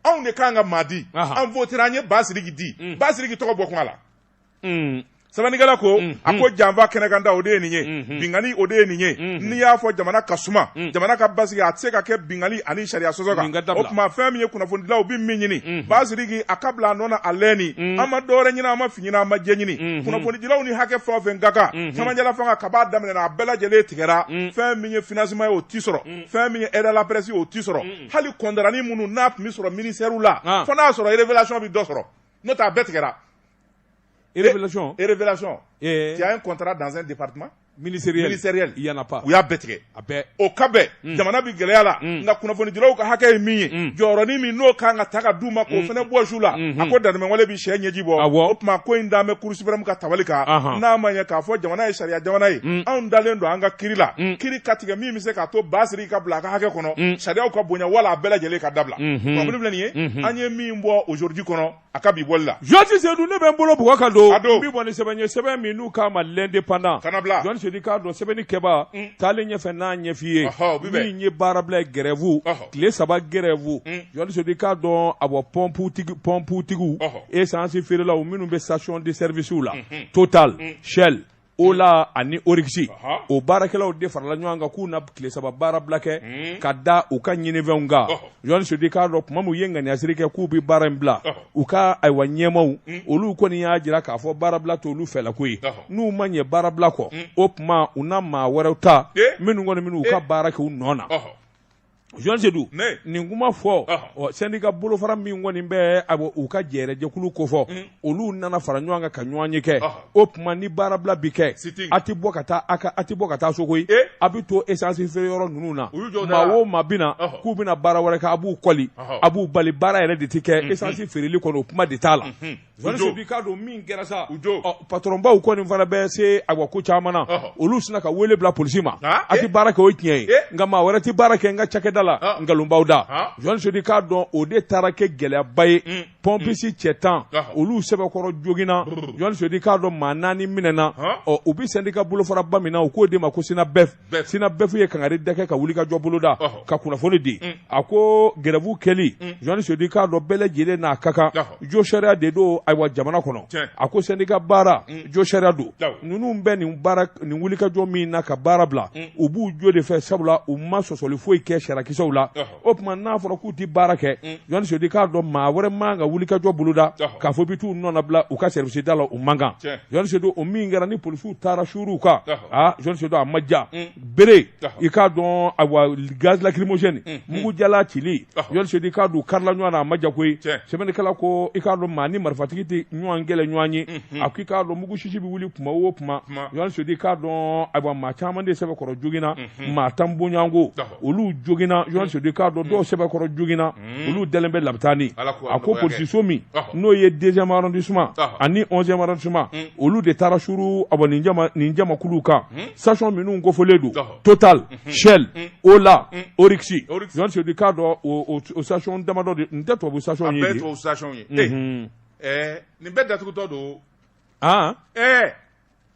S2: anw de k'an ka maa di an votera an ye basiriki di mm. basiriki tɔgɔ bɔ kuma la mm. sɛbɛnnikɛla ko mm. a ko janfa kɛnɛkanda o de ye nin ye mm-hmm. binkani o de ye nin ye mm-hmm. n'i y'a fɔ jamana ka suma jamana ka basigi a tɛ se ka kɛ binkani ani sariya sɔsɔ kan o tuma fɛn min ye kunnafonidilaw bɛ min ɲini mm-hmm. basiriki a ka bila a nɔ na a lɛni an ma dɔwɛrɛ ɲini an ma fin ɲini an ma jɛ ɲini kunnafonidilaw ni hakɛ fɛn o fɛn ka kan cɛmancɛla fanga kab'a daminɛ a bɛɛ lajɛlen tigɛra fɛn min ye financement ye o tɛ sɔrɔ fɛn min ye aide à la presse ye o tɛ sɔrɔ hali kɔndarani minnu n'a tun bɛ sɔrɔ ministèrew la ah. fo n'a y'a sɔrɔ révélation bɛ dɔ sɔrɔ n'o tɛ a bɛɛ
S1: tigɛra révélation révélation
S2: eh. tu as un contrat dans un département ministériel ministériel il
S1: y en a pas u y'a bɛɛ tigɛ a bɛɛ
S2: o ka bɛn hmm. jamana bɛ gɛlɛya la hmm. nka kunnafonidilaw ka hakɛ ye min ye hmm. jɔyɔrɔnin min n'o kan ka ta ka d'u ma k'o fana bɔs'u la a ko dantɛmɛwale bɛ cɛ ɲɛji bɔ o tuma ko in dalen bɛ cour suprême ka tabali kan n'a ma ɲɛ k'a fɔ jamana ye sariya jamana ye anw dalen don an ka kiri la kiri ka tigɛ min se k'a to Basidiki ka bila a ka hakɛ kɔnɔ mm. sariyaw ka bonya wala a bɛɛ lajɛlen ka dabila mm-hmm. problème filɛ nin ye mm-hmm. an ye min bɔ aujourd'hui kɔnɔ a ka bi bɔli la Jɔsi Sedu ne bɛ n bolo
S1: bugɔ ka don n bi bɔ ni sɛbɛn ye sɛbɛn min n'u k'a ma l'indépendant kana bila Jɔsi Sedu k'a
S2: dɔn
S1: sɛbɛnnikɛbaa mm. taalen ɲɛfɛ n'a ɲɛf'i ye min ye baarabila ye grève tile saba grève Jɔsi mm. Sedu k'a dɔn a bɔ pɔnputigi pɔnputigiw essence feerelaw minnu bɛ station de service la mm-hmm. Total Shell Ola ani Oryx o baarakɛlaw de farala ɲɔgɔn kan k'u na tile saba baarabila kɛ hmm. ka da u ka ɲinifɛnw kan Jɔsi Sedu k'a dɔn tuma min u ye ŋaniyasiri kɛ k'u bɛ baara in bila u ka ayiwa ɲɛmaw hmm. olu kɔni y'a jira k'a fɔ baarabila t'olu fɛlako ye n'u ma ɲɛ baarabila kɔ hmm. o tuma u na maa wɛrɛw ta minnu kɔni minnu ka baara kɛ u nɔ na Jɔsi Sedu nin kuma fɔ sɛndika bolofara min kɔni bɛ a u ka jɛjɛkulu kofɔ olu nana fara ɲɔgɔn kan ka ɲɔgɔnye kɛ o tuma ni baarabila bi kɛ a tɛ bɔ ka taa a a tɛ bɔ ka taa so koyi a bɛ to esansi feere yɔrɔ ninnu na maa o maa bɛ na k'u bɛna baara wɛrɛ kɛ a b'u kɔli a b'u bali baara yɛrɛ de tɛ kɛ esansi feereli kɔnɔ o kuma de t'a la K'a dɔn min kɛra sa patronbaw kɔni fana bɛ se a ko caman na olu sina ka wele bila polisi ma a tɛ baara kɛ o tiɲɛ ye nka maa wɛrɛ tɛ baara kɛ n ka cakɛda la nkalonbaw da Jɔsi Sedu k'a dɔn o de taara kɛ gɛlɛyaba ye pɔnpisi cɛ tan olu sɛbɛkɔrɔ joginna Jɔsi Sedu k'a dɔn maa naani minɛna u bɛ sɛndika bolofaraba min na u k'o de ma ko SYNABEF SYNABEF ye kangari de kɛ ka wulikajɔ boloda ka kunnafoni di mm. a ko grève kɛli mm. Jɔsi Sedu k'a dɔn bɛɛ lajɛlen n'a ka kan josariya de don ayiwa jamana kɔnɔ a ko sɛndika baara mm. josariya don ninnu bɛ nin baara nin wulikajɔ min na ka baara bila u b'u jo de fɛ sabula u ma sɔsɔli foyi kɛ sariyakisɛw la o tuma n'a fɔra k'u tɛ baara kɛ mm. Jɔsi Sedu k'a dɔn maa wɛrɛ man ka wulikajɔ boloda k'a fɔ bɛ t'u nɔnabila u ka service da la o man kan Jɔsi Sedu o min kɛra ni polisiw taara suur'u kan aa Jɔsi Sedu a ma ja mm. bere i k'a dɔn awa gaz lacrymogène mm. mugu jalan cili Jɔsi Sedu k'a dɔn karila ɲɔgɔn na a ma ja koyi sɛbɛnnikɛla ko i k'a dɔn maa ni marifatigi tɛ ɲɔgɔn kɛlɛɲɔgɔn ye mm-hmm. a ko i k'a dɔn mugu sisi bɛ wuli tuma o tuma Jɔsi Sedu k'a dɔn awa maa caman de sɛbɛkɔrɔ joginna mm-hmm. maa tan bɔɲɔgɔnko olu jogina jɔn sodi k'a dɔn dɔw sɛbɛkɔrɔ jogina olu dalen bɛ labitani a ko polisiso min n'o ye deuxième arrondissement ani onzième arrondissement olu de taara suru abɔ nin jama nin jamakuluw kan station minnu kofɔlen don total shell ola oryx jɔn sodi k'a dɔn o o station damadɔ de nin tɛ tubabu station ye de tubabu station
S2: ye nin bɛɛ datugutɔ don ɛɛ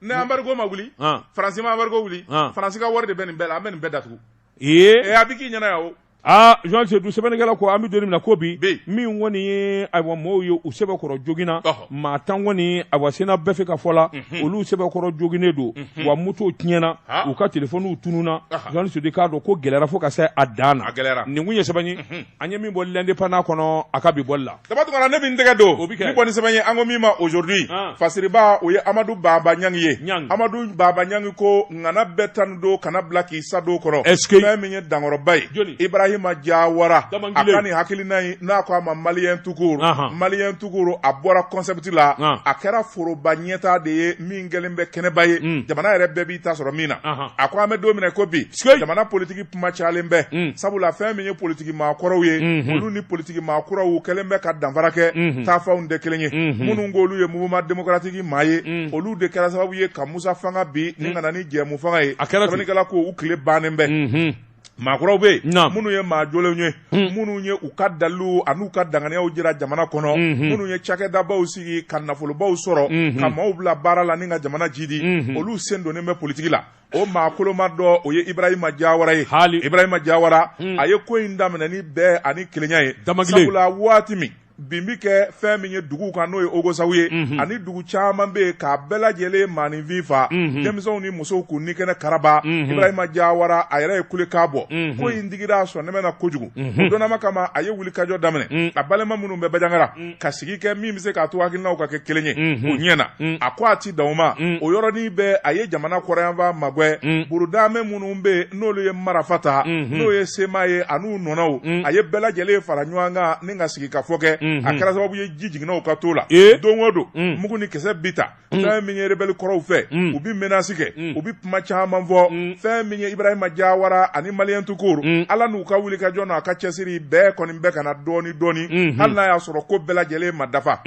S2: Ni embargo ma wuli faransi ma embargo wuli faransi ka wari de bɛ nin bɛɛ la an bɛ nin bɛɛ datugu ee a bɛ k'i ɲɛna yan o aa jɔn sedu
S1: sɛbɛnnikɛla ko an bɛ don min na ko bi min kɔni ye ayiwa maaw ye u sɛbɛkɔrɔ jogina maa tan kɔni ayiwa senna bɛɛ fɛ ka fɔ la olu sɛbɛkɔrɔ joginnen don wa moto tiɲɛna u ka telefɔniw tununna jɔn sudi k'a dɔn ko gɛlɛyara fo ka se a dan na nin kun ye sɛbɛn an ye min bɔ l'indépendant kɔnɔ a ka bi bɔli la Daba Tunkara ne bɛ n tɛgɛ
S2: don bi bɔ ni sɛbɛn ye an ko min ma aujourd'hui fasiriba o ye amadu baba ɲangi ye amadu baba ɲangi ko ŋana bɛɛ tanu don kana bila k'i sa don kɔnɔ fɛn min ye dankɔrɔba ye ibrahima jawara a ka nin hakilina in n'a ko a ma maliyɛn tout court maliyɛn tout court a bɔra concept la a kɛra foroba ɲɛta de ye min kɛlen bɛ kɛnɛba ye jamana yɛrɛ bɛɛ b'i ta sɔrɔ min na a ko an bɛ don min na ko bi jamana politigi kuma cayalen bɛ mm. sabula fɛn min ye politigi maa kɔrɔw ye mm -hmm. olu ni politigi maa kuraw kɛlen bɛ ka danfara kɛ mm -hmm. taafanw tɛ kelen ye mm -hmm. minnu k'olu ye mouvement démocratique maa ye mm. olu de kɛra sababu ye ka musa fanga bin mm. ni ka na ni jɛmufanga ye sɛbɛnnikɛla ko u tile bannen bɛ mm -hmm. maakɔrɔw bɛ yen minnu ye maa jolenw ye hmm. minnu ye u ka dalilu an'u ka danganiyaw jira jamana kɔnɔ hmm, hmm. minnu ye cakɛdabaw sigi ka nafolobaw sɔrɔ ka maaw bila baara la ni ka jamana jidi olu sen donnen bɛ politiki la o maa koloma dɔ o ye ibrahima jawara ye hali ibrahima jawara hmm. a ye ko in daminɛ ni bɛn ani kelenya ye sabula waati min bin bi kɛ fɛn min ye dugu kan n'o ye ogosagu ye mhm. ani dugu caman bɛ yen k'a bɛɛ lajɛlen maaninfin fa mhm. denmisɛnw ni musow k'u ni kɛnɛ karaba mhm. ibrahima jawara a yɛrɛ ye kulekan bɔ ko in digira sɔnnɛmɛ na kojugu o donnama kama a ye wulikajɔ daminɛ a balima minnu bɛ bajangara ka sigi kɛ min bɛ se k'a to hakilinaw ka kɛ kelen ye o ɲɛ na a ko a ti dan o ma o yɔrɔnin bɛɛ a ye jamana kɔrɔnyanfan maagwɛ burudamɛ minnu bɛ yen n'olu ye marafa ta n'o ye CMA ye an'u nɔnɔw a ye bɛɛ lajɛlen fara ɲɔgɔn kan ni ka sigikafɔ kɛ a kɛra sababu ye ji jiginna u ka to la don o don mugu ni kisɛ bi ta fɛn min ye rebelle kɔrɔw fɛ u bɛ menace kɛ u bɛ kuma caman fɔ fɛn min ye Ibrahima Diawara ani maliyɛn tout court Ala n'u ka wulikajɔ n'a ka cɛsiri bɛn kɔni bɛ ka na dɔɔni dɔɔni hali n'a y'a sɔrɔ ko bɛɛ lajɛlen ma dafa.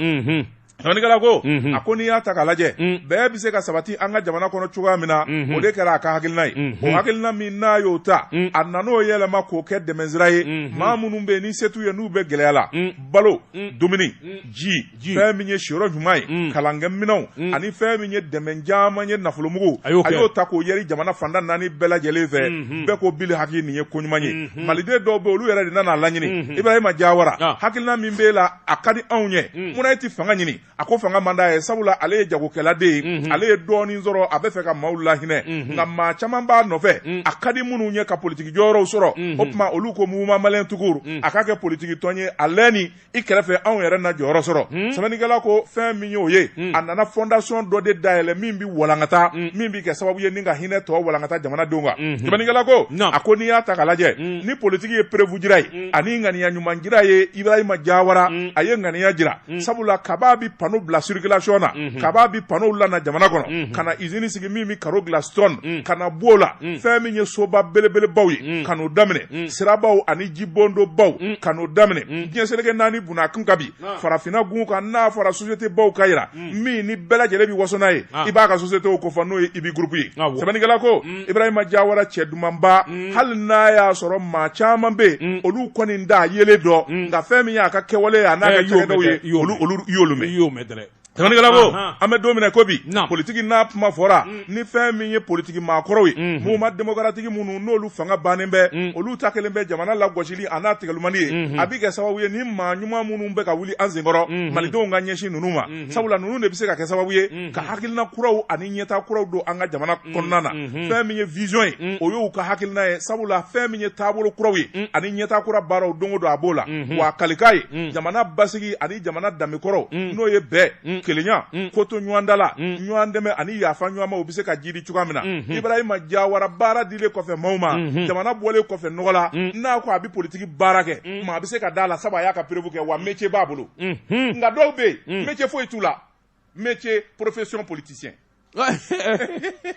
S2: Sɛbɛnnikɛla ko a ko n'i y'a ta k'a lajɛ bɛn bɛ se ka sabati an ka jamana kɔnɔ cogoya min na o de kɛra a ka hakilina ye o hakilina min n'a y'o ta a nan'o yɛlɛma k'o kɛ dɛmɛnsira ye maa minnu bɛ yen ni se t'u ye n'u bɛ gɛlɛya la balo dumuni ji fɛn min ye siyɔrɔ ɲuman ye mm. kalankɛminɛnw mm. ani fɛn min ye dɛmɛ caman ye nafolomugu a y'o ta k'o yɛri jamana fanda naani bɛɛ lajɛlen fɛ mm-hmm. bɛɛ ko bi hakili nin ye ko ɲuman ye mm-hmm. maliden dɔw bɛ olu yɛrɛ de nan'a laɲini mm-hmm. ibrahima jawara ah. hakilina min b'e la a ka di anw ye mm. munna e tɛ fanga ɲini a ko fanga man d'a ye sabula ale ye jagokɛladen ye ale ye dɔɔnin sɔrɔ a bɛ fɛ ka maaw lahinɛ nka maa caman b'a nɔfɛ a ka di minnu ye ka politiki jɔyɔrɔw sɔrɔ o tuma olu ko mouvement malien tout court a k'a kɛ politiki tɔn ye a lɛni i kɛrɛfɛ anw yɛrɛ na jɔyɔrɔ sɔrɔ hmm. sɛbɛnnikɛla ko fɛn min y'o ye hmm. a nana fondation dɔ de dayɛlɛ min bɛ walankata hmm. min bɛ kɛ sababu ye ni ka hinɛ tɔ walankata jamanadenw kan sɛbɛnnikɛla ko a ko n'i y'a ta ka lajɛ ni politiki ye preuve jira ye ani ŋaniya ɲuman jira ye ibrahima jawara a ye ŋaniya jira sabula kab'a bi pano bila circulation na kab'a bi pano lana jamana kɔnɔ ka na izini sigi min bɛ karo dilan stone ka na b'o la fɛn min ye soba belebelebaw ye ka n'o daminɛ sirabaw ani jibondobaw ka n'o daminɛ diɲɛ seleke naani bun a kan ka bi farafinna gun kan n'a fɔra société baw k'a jira min ni bɛɛ lajɛlen bɛ waso n'a ye i b'a ka société o kofɔ n'o ye ibi groupe ye sɛbɛnnikɛla ko ibrahima jawara cɛ dumanba hali n'a y'a sɔrɔ maa caman bɛ yen olu kɔni t'a yelen dɔn nka fɛn min y'a ka kɛwale ye a n'a ka cakɛdaw ye olu y'olu mɛn sɛbɛnnikɛla ko an bɛ don min na ko bi politiki n'a kuma fɔra ni fɛn min ye politiki maakɔrɔw ye mouvement démocratique minnu n'olu fanga bannen bɛ olu ta kɛlen bɛ jamana lagosili a n'a tigɛlilima ye a bɛ kɛ sababu ye ni maa ɲuman minnu bɛ ka wuli an senkɔrɔ malidenw ka ɲɛsin ninnu ma sabula ninnu de bɛ se ka kɛ sababu ye ka hakilina kuraw ani ɲɛta kuraw don an ka jamana kɔnɔna na fɛn min ye vision ye o y'u ka hakilina ye sabula fɛn min ye taabolo kuraw ye ani ɲɛta kura baaraw don o don a b'o la wa a kalikan ye jamana basigi ani jamana danbekɔrɔw n'o ye bɛɛ kelenya koto ɲɔgɔntala ɲɔgɔn dɛmɛ ani yafa ɲɔgɔnma u bɛ se ka jiidi cogoya min na ibrahima jawara baara dilen kɔfɛ maaw ma jamana bɔlen kɔfɛ nɔgɔ la n'a ko a bɛ politiki baara kɛ maa bɛ se ka d'a la sabu a y'a ka preuve kɛ wa métier b'a bolo nka dɔw bɛ yen métier foyi t'u la métier profession
S1: politicien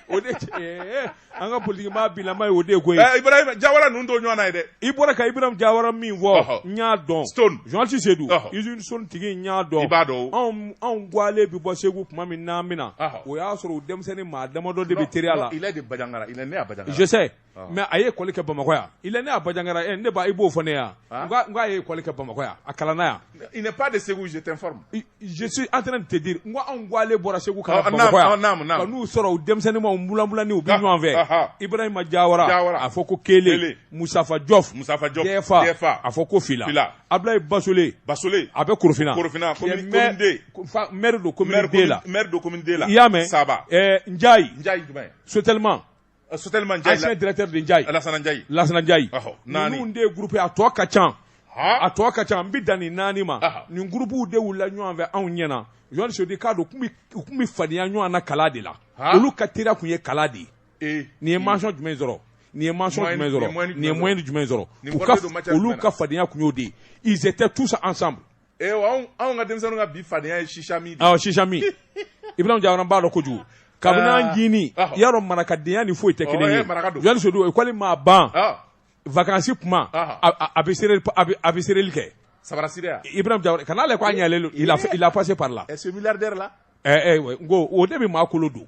S1: o de eh, an ka politiki maa bilama ye o de ye koyi eh, ibrahima jawara ninnu t'o
S2: ɲɔgɔn na ye dɛ i bɔra ka ibrahima jawara
S1: min fɔ n y'a dɔn stone journaliste sedu usine stone tigi n y'a dɔn i b'a dɔn
S2: anw anw gwale bɛ
S1: bɔ segu tuma min n'an bɛna o y'a sɔrɔ u denmisɛnninma damadɔ de bɛ teriya la il est de bajangara il est né
S2: à bajangara je sais mɛ a
S1: ye kɔli kɛ bamakɔya i ne y'a bajangara e ne i b'o fɔ ne yan ko a ye kɔli kɛ bamakɔya a kalan yan de segu jesi
S2: an
S1: tɛna tɛ di
S2: n ko
S1: anw ko
S2: ale
S1: bɔra segu n'u sɔrɔ u denmisɛnninwlanwlani u bɛ ɲɔgɔn fɛ i bɔra ma jayara a fɔ ko kelen musafa jɔf musafafa a fɔ ko fila a bilaye basole basole a bɛ korofinna korofinna don la la i y'a mɛn saba n ja sotema Soteli man ja dɛrɛtɛri ja alasanjai lasanjai naani de ye gp a tɔ ka ca a tɔ ka ca n bɛ dan ni naani ma nin gurpbuw de la ɲɔgɔn fɛ anw ɲɛna ɲɔdi k'a don u tun bɛ fadenya ɲɔgɔn na kala de la olu ka teri tun ye kala de ye nin ye masɔn jumɛn sɔrɔ nin ye ma jumɛn nin ye mɔ ni jumɛn sɔrɔ olu ka fadenyaya tun y'o de ize tɛ tusa ansan ee anw
S2: anw ka denmisɛnninw ka bi fadenya ye shisha min de ye. awɔ shisha
S1: min Ibrahima Jawara b'a dɔn kojugu kabini an ah. jini ah. y'a dɔn marakadenya ni foyi tɛ kelen ye Jean dit Seydou école maa ban ah. vakansi kuma a bɛ sereli a bɛ sereli kɛ sabarasireya Ibrahima Jawara ka na ale ko a ɲɛlen don il a passé par là ce milliardaire là
S2: ɛɛ eh, eh, n ko o
S1: de bɛ maa kolo don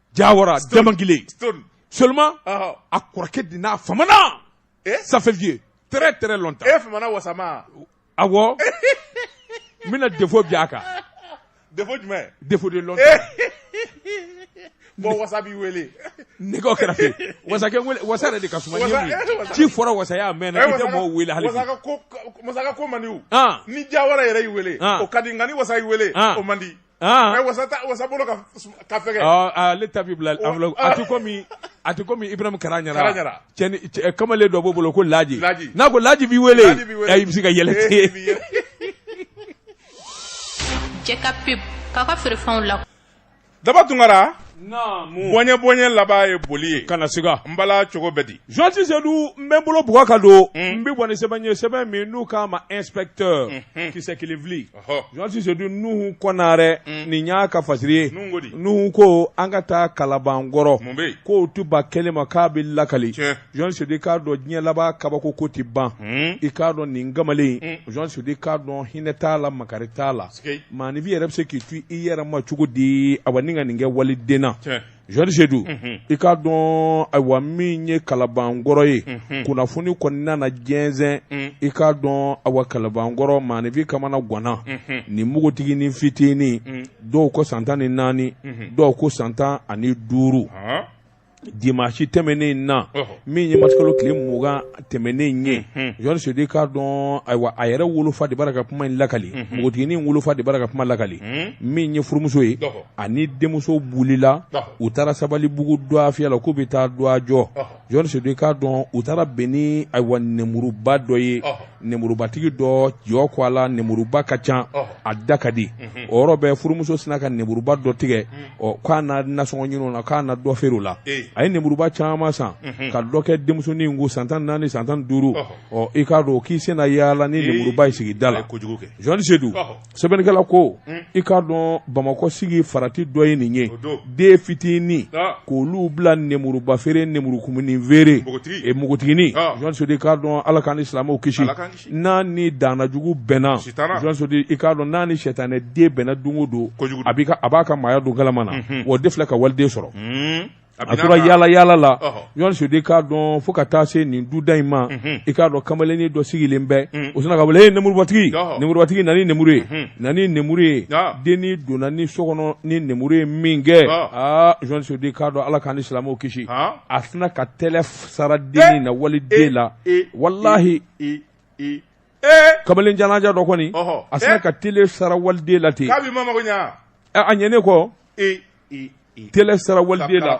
S2: Jayara
S1: jama kelen soma a kɔrɔkɛ
S2: di n'a fa
S1: safeji t tɛ lɔnta e wa a n bɛna defo bi a kan
S2: de bɔn wasa b'i weele ne kɛra
S1: wasa de ka ci fɔra wasaya mɛn weele hali
S2: ko man ni ja wɛrɛ yɛrɛ y'i weele o ka di nka ni wasa y' weele o man di wasa wasa bolo ka ka fɛgɛ ɔ ale ta bi
S1: bila enveloppe a ti komi a ti komi Ibrahim Karaɲara Karaɲara. cɛni cɛ- kamalen dɔ b'o bolo ko Laji Laji. n'a ko Laji b'i wele Laji b'i wele. ayi i bɛ se ka yɛlɛ Eh, ten bi yɛlɛ.
S3: cɛ ka pep k'a ka feerefɛnw la Daba
S2: Tunkara naamu bɔnyɛ bɔnyɛ laban ye boli ye kana siga n
S1: bala cogo bɛ di
S2: Jean dit Seydou n
S1: bɛ n bolo bugɔ ka don n bɛ bɔ ni sɛbɛn ye sɛbɛn min n'u k'a ma inspecteur kisɛ kelen fili Jean dit Seydou Nuhu Konare nin y'a ka fasiri ye Nuhu ko an ka taa Kalabankɔrɔ k'o tuba kelen ma k'a bɛ lakali Jean Seydou i k'a dɔn diɲɛ laban kabako ko tɛ ban i k'a dɔn nin kamalen Jean Seydou i k'a dɔn hinɛ t'a la makari t'a la maanifin yɛrɛ bɛ se k'i to i yɛrɛ ma cogo di a ka nin kɛ waliden Jean dit Seydou i k'a dɔn ayiwa min ye Kalabankɔrɔ ye kunnafoni kɔni nana jɛnsɛn i k'a dɔn awa Kalabankɔrɔ maanifin kamana ganna ni npogotiginin fitinin dɔw ko san tan ni naani dɔw ko san tan ani duuru dimansi tɛmɛnen in na min ye marisikalo tile mugan tɛmɛnen ye Jean Seydou k'a dɔn ayiwa a yɛrɛ wolofa de bara ka kuma in lakali npogotigini wolofa de bara ka kuma lakali min ye furumuso ye ani denmuso bolila u taara Sabalibugu dɔgɔfiyɛ la k'u bɛ taa dɔgɔ jɔ Jean Seydou k'a dɔn u taara bɛn ni ayiwa nemuruba dɔ ye nemurubatigi dɔ jɔ ko a la nemuruba ka ca a da ka di o yɔrɔ bɛɛ furumuso sina ka nemuruba dɔ tigɛ ɔ k'a na nasɔngɔ ɲini o la k'a na dɔ feere o la a ye nemuruba caman san ka dɔ kɛ denmusonin kun san tan naani san tan duuru ɔ i k'a dɔn k'i senna yaala ni nemuruba ye sigida la Sedu sɛbɛnnikɛla ko i k'a dɔn bamakɔ sigi farati dɔ ye nin ye den fitinin k'olu bila nemuruba feere nemurukumunin feere npogotiginin k'a dɔn ala k'an ni silamɛw kisi n'a ni danajugu bɛnna Sedu i k'a dɔn n'a ni sɛtanɛ den bɛnna don o don a a b'a ka maaya don galama na o de filɛ ka waliden sɔrɔ a tora yaala yaala la Jɔn Sedu k'a dɔn fo ka taa se nin duda in ma i k'a dɔn kamalennin dɔ sigilen bɛ o sina ka wele nemurubatigi nemurubatigi na ni nemuru ye na ni nemuru ye denni donna ni so kɔnɔ ni nemuru ye min kɛ aa Sedu k'a dɔn ala k'an ni silamɛw kisi a sina ka tɛ sara denni na waliden la walahi kamalen jamanjan dɔ kɔni a sina ka tɛlɛ sara waliden la ten a ɲɛnen kɔ tɛlɛ sara waliden la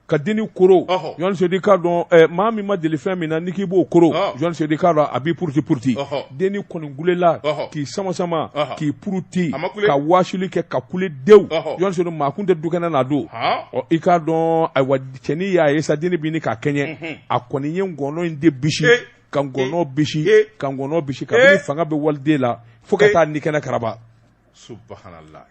S1: ka denni koron Jɔn Sedu k'a dɔn maa min ma deli fɛn min na ni k'i b'o koron Jɔn Sedu k'a dɔn a b'i puruti puruti denni kɔni kulela k'i samasama k'i puruti ka wasili kɛ ka kule dewu jɔn maa kun tɛ dukɛnɛ na don i k'a dɔn ayiwa cɛnin y'a ye sa denni bɛ ɲini k'a kɛɲɛ mhm. a kɔni ye ngɔnɔ in de bisi eh. ka ngɔnɔ eh. bisi eh. ka ngɔnɔ bisi kabini fanga bɛ waliden la fo ka taa ni kɛnɛ karaba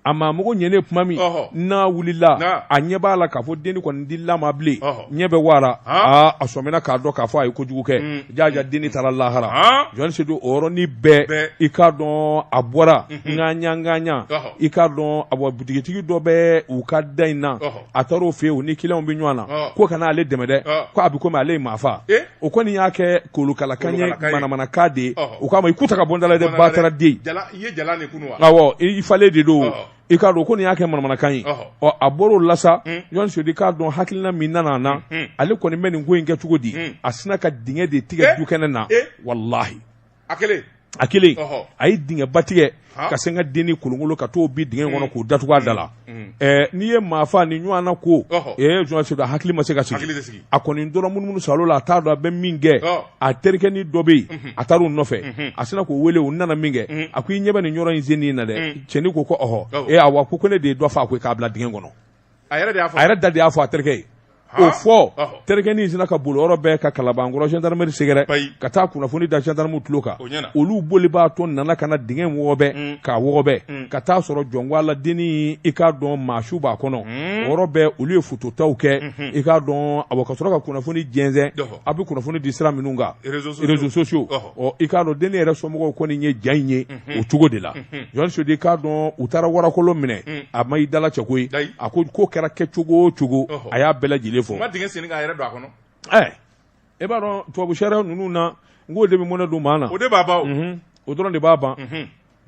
S2: a mago
S1: ɲɛnen tuma min n'a wulila a ɲɛ b'a la k'a fɔ denni kɔni tɛ lamaga bilen ɲɛ bɛɛ waara aa a sɔmina k'a dɔn k'a fɔ a ye kojugu kɛ mm. jaja mm. denni taara lahara Jɔn Sedu o yɔrɔnin bɛɛ i k'a dɔn a bɔra ŋaɲa mm-hmm. ŋaɲa i k'a dɔn a bɔ butigitigi dɔ bɛ u ka da in na a taar'o fɛ yen o ni kiliyanw bɛ ɲɔgɔn na Ɔ. k'u ka na ale dɛmɛ dɛ Ɔ. ko a bɛ komi ale ye maa fa Eh? o kɔni y'a kɛ kolokalakan ye Kolokalakan ye. manamanakan de ye Ɔhɔ. o k'a ma i ku ta ka bɔ n da la dɛ bataraden Jala, i ye jala de kunu wa? awɔ i i falen de don Ɔhɔ. i k'a dɔn o kɔni y'a kɛ manamanakan ye Ɔhɔ. ɔ a bɔr'o la sa Mm. Jɔn Sedu k'a dɔn hakilina min nana a na Mm. ale kɔni bɛ nin ko in kɛ cogo di Mm. a sina ka dingɛ de tigɛ Eh? dukɛnɛ na Eh? walahi a kelen a kelen ɔhɔ a ye dingɛ ba tigɛ Ha. ka sin ka denni kolonkolon ka t'o bin dingɛ kɔnɔ k'o datugu a da la Mm. Ɛɛ, n'i ye maa fa ni ɲɔgɔn na ko Ɔhɔ. ee Jɔn Sedu a hakili ma se ka hakili sigi tɛ sigi a kɔni tora munumunu salo la a t'a dɔn a bɛ min kɛ Ɔ. a terikɛnin dɔ bɛ yen a taar'o nɔfɛ a sina k'o wele u nana min kɛ a ko i ɲɛ bɛ nin yɔrɔ in sennen na dɛ cɛnin ko ko ɔhɔ Awɔ. ee awa ko ko ne de ye dɔ fa a ko k'a bila dingɛ kɔnɔ a yɛrɛ de y'a fɔ a yɛrɛ da de y'a fɔ a terikɛ ye o fɔ terikɛnin sina ka boli o yɔrɔ bɛɛ ka kalabankɔrɔ gendarmerie sɛgɛrɛ ka taa kunnafoni da gendarmew tulo kan olu bolibaatɔ nana ka na dingɛ in wɔgɔbɛ mm. k'a wɔgɔbɛ mm. ka t'a sɔrɔ jɔnwa la denni i k'a dɔn maa su b'a kɔnɔ o mm. yɔrɔ bɛɛ olu ye fototaw kɛ mm-hmm. i k'a dɔn awɔ ka sɔrɔ ka kunnafoni jɛnsɛn a bɛ kunnafoni di sira minnu kan réseaux sociaux ɔ i k'a dɔn dennin yɛrɛ somɔgɔw kɔni ye ja in ye o cogo de la Jɔn Sedu i k'a dɔn u taara warakolo minɛ a ma i dalacɛ ko ye a ko ko kɛra kɛcogo o cogo a y'a bɛɛ lajɛlen
S2: fɔ a ma dingɛ sen k'a yɛrɛ don a kɔnɔ e b'a
S1: dɔn tubabu sariya ninnu na n k'o de bɛ mɔnɛ don maa na o de b'a
S2: o dɔrɔn de b'a ban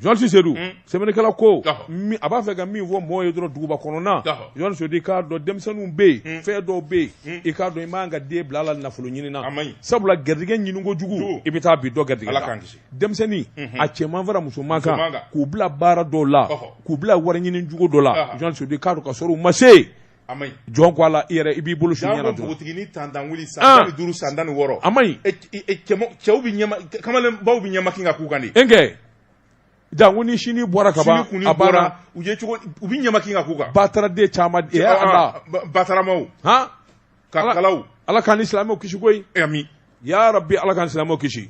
S1: Jɔn Sedu sɛbɛnnikɛla ko a b'a fɛ ka min fɔ mɔgɔ ye dɔrɔn duguba kɔnɔna Jɔn Sedu i k'a dɔn denmisɛnninw bɛ yen fɛn dɔw bɛ yen i k'a dɔn i man ka den bila la nafolo ɲini na sabula garijɛgɛ ɲini kojugu i bɛ taa bin dɔ garijɛgɛ la denmisɛnnin a cɛman fara musoman kan k'u bila baara dɔw la k'u bila wari ɲini jugu dɔ la Jɔn Sedu i k'a dɔn ka sɔrɔ u ma se A man ɲi Jɔn ko Ala i yɛrɛ i b'i bolo s'i ɲɛ na dɔrɔn janko npogotigini tantan wili
S2: san tan ni duuru san tan ni wɔɔrɔ a man ɲi e
S1: c e cɛma cɛw bi
S2: ɲɛma k kamalenbaw bi ɲɛmakin ka k'u kan de n kɛ
S1: janko ni sinnin bɔra ka ban sin kunnin a bɔra banna u
S2: ye cogo u bi ɲɛmakin ka k'u kan bataraden caman de
S1: ya Ala ba
S2: bataramaw han ka Ala kalaw Ala k'an ni silamɛw
S1: kisi koyi aami yarabi
S2: Ala
S1: k'an ni silamɛw kisi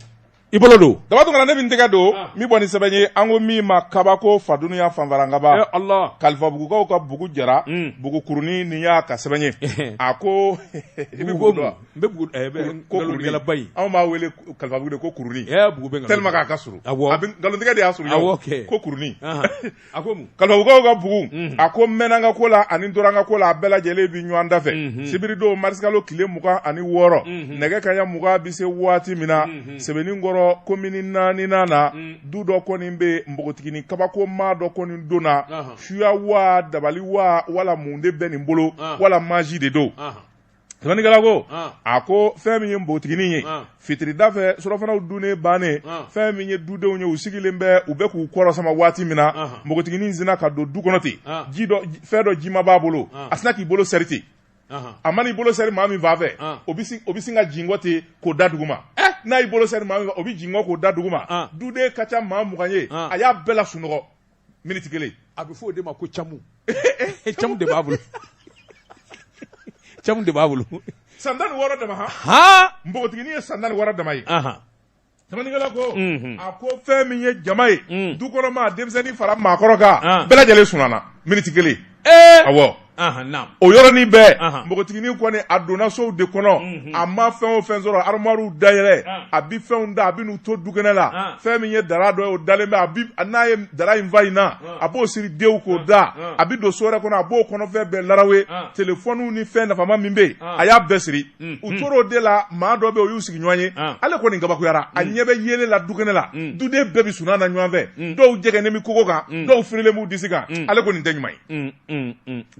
S1: i bolo don daba tun kana ne bɛ n tɛgɛ
S2: don ah. min bɔ ni sɛbɛn ye an ko min ma kabako fa duniɲa fanfarangaba eh, Allah kalifabugukaw
S1: ka bugu
S2: jara hmm. bugu kurunin nin y'a ka sɛbɛn ye eh. a ko i bɛ bugu dɔn n bɛ
S1: eh, ko kuruningalaba in anw b'a wele
S2: kalifabugu de ko kurunin bugu bɛ tellement k'a
S1: ka surun awɔ
S2: nkalontigɛ de y'a surun ko kurunin
S1: A ko mun? Kalifabugukaw ka bugu,
S2: unhun, a ko n mɛnna n ka ko la ani n tora n ka ko la, a bɛɛ lajɛlen bɛ ɲɔgɔn dafɛ, unhun, sibiridon marisikalo tile mugan ani wɔɔrɔ, unhun, nɛgɛ kanɲɛ mugan bɛ se waati min na, unhun, Sebenikɔrɔ komini naaninan na, un, du dɔ kɔni bɛ yen, npogotiginin kabakoma dɔ kɔni donna, ɔnhɔn, suya wa, dabali wa, wala mun de bɛ nin bolo, ɔn, wala maji de don. Sɛbɛnnikɛla ko, an, a ko fɛn min ye npogotiginin ye, an, fitirida fɛ surɔfanaw dunnen bannen, an, fɛn min ye dudenw ye u sigilen bɛ u bɛ k'u kɔrɔsama waati min na, anhan, npogotiginin sinna ka don du kɔnɔ ten, an, ji dɔ fɛn dɔ jima b'a bolo, an, a sinna k'i bolo sɛri ten, anhan, a mana i bolo sɛri maa min fan fɛ, an, o bɛ sin o bɛ sin ka jingɔ ten k'o da duguma, ɛ, n'a y'i bolo sɛri maa min fɛ o bɛ jingɔ k'o da duguma, an, duden ka ca maa mugan ye, an, a y'a bɛɛ lasunɔgɔ, miniti kelen a bɛ fɔ o de ma
S1: ko camu camu de b'a bolo camu de b'a bolo san tan ni wɔɔrɔ
S2: dama han npogotiginin ye san tan ni wɔɔrɔ dama ye sɛbɛnnikɛla ko a ko fɛn min ye jama ye dukɔnɔmaa denmisɛnnin fara maakɔrɔ kan bɛɛ lajɛlen sunana miniti kelen o yɔrɔnin bɛɛ npogotiginin kɔni a donna sow de kɔnɔ a ma fɛn o fɛn sɔrɔ armoirew dayɛlɛ a bɛ fɛnw ta a bɛ n'u to dukɛnɛ la fɛn min ye dara dɔ ye o dalen bɛ n'a ye dara in fa in na a b'o siri dew k'o da a bɛ don so wɛrɛ kɔnɔ a b'o kɔnɔfɛn bɛɛ larawe telefɔniw ni fɛn nafama min bɛ yen a y'a bɛɛ siri Mm, u mm. tor'o de la maa dɔ bɛ o y'u sigiɲɔgɔn ye ah. ale kɔni kabakuyara a mm. ɲɛ bɛ yeelen la dukɛnɛ la duden bɛɛ bɛ sunan na ɲɔgɔn fɛ dɔw jɛgɛnen bɛ kogo kan dɔw firilen b'u disi kan ale kɔni tɛ ɲuman ye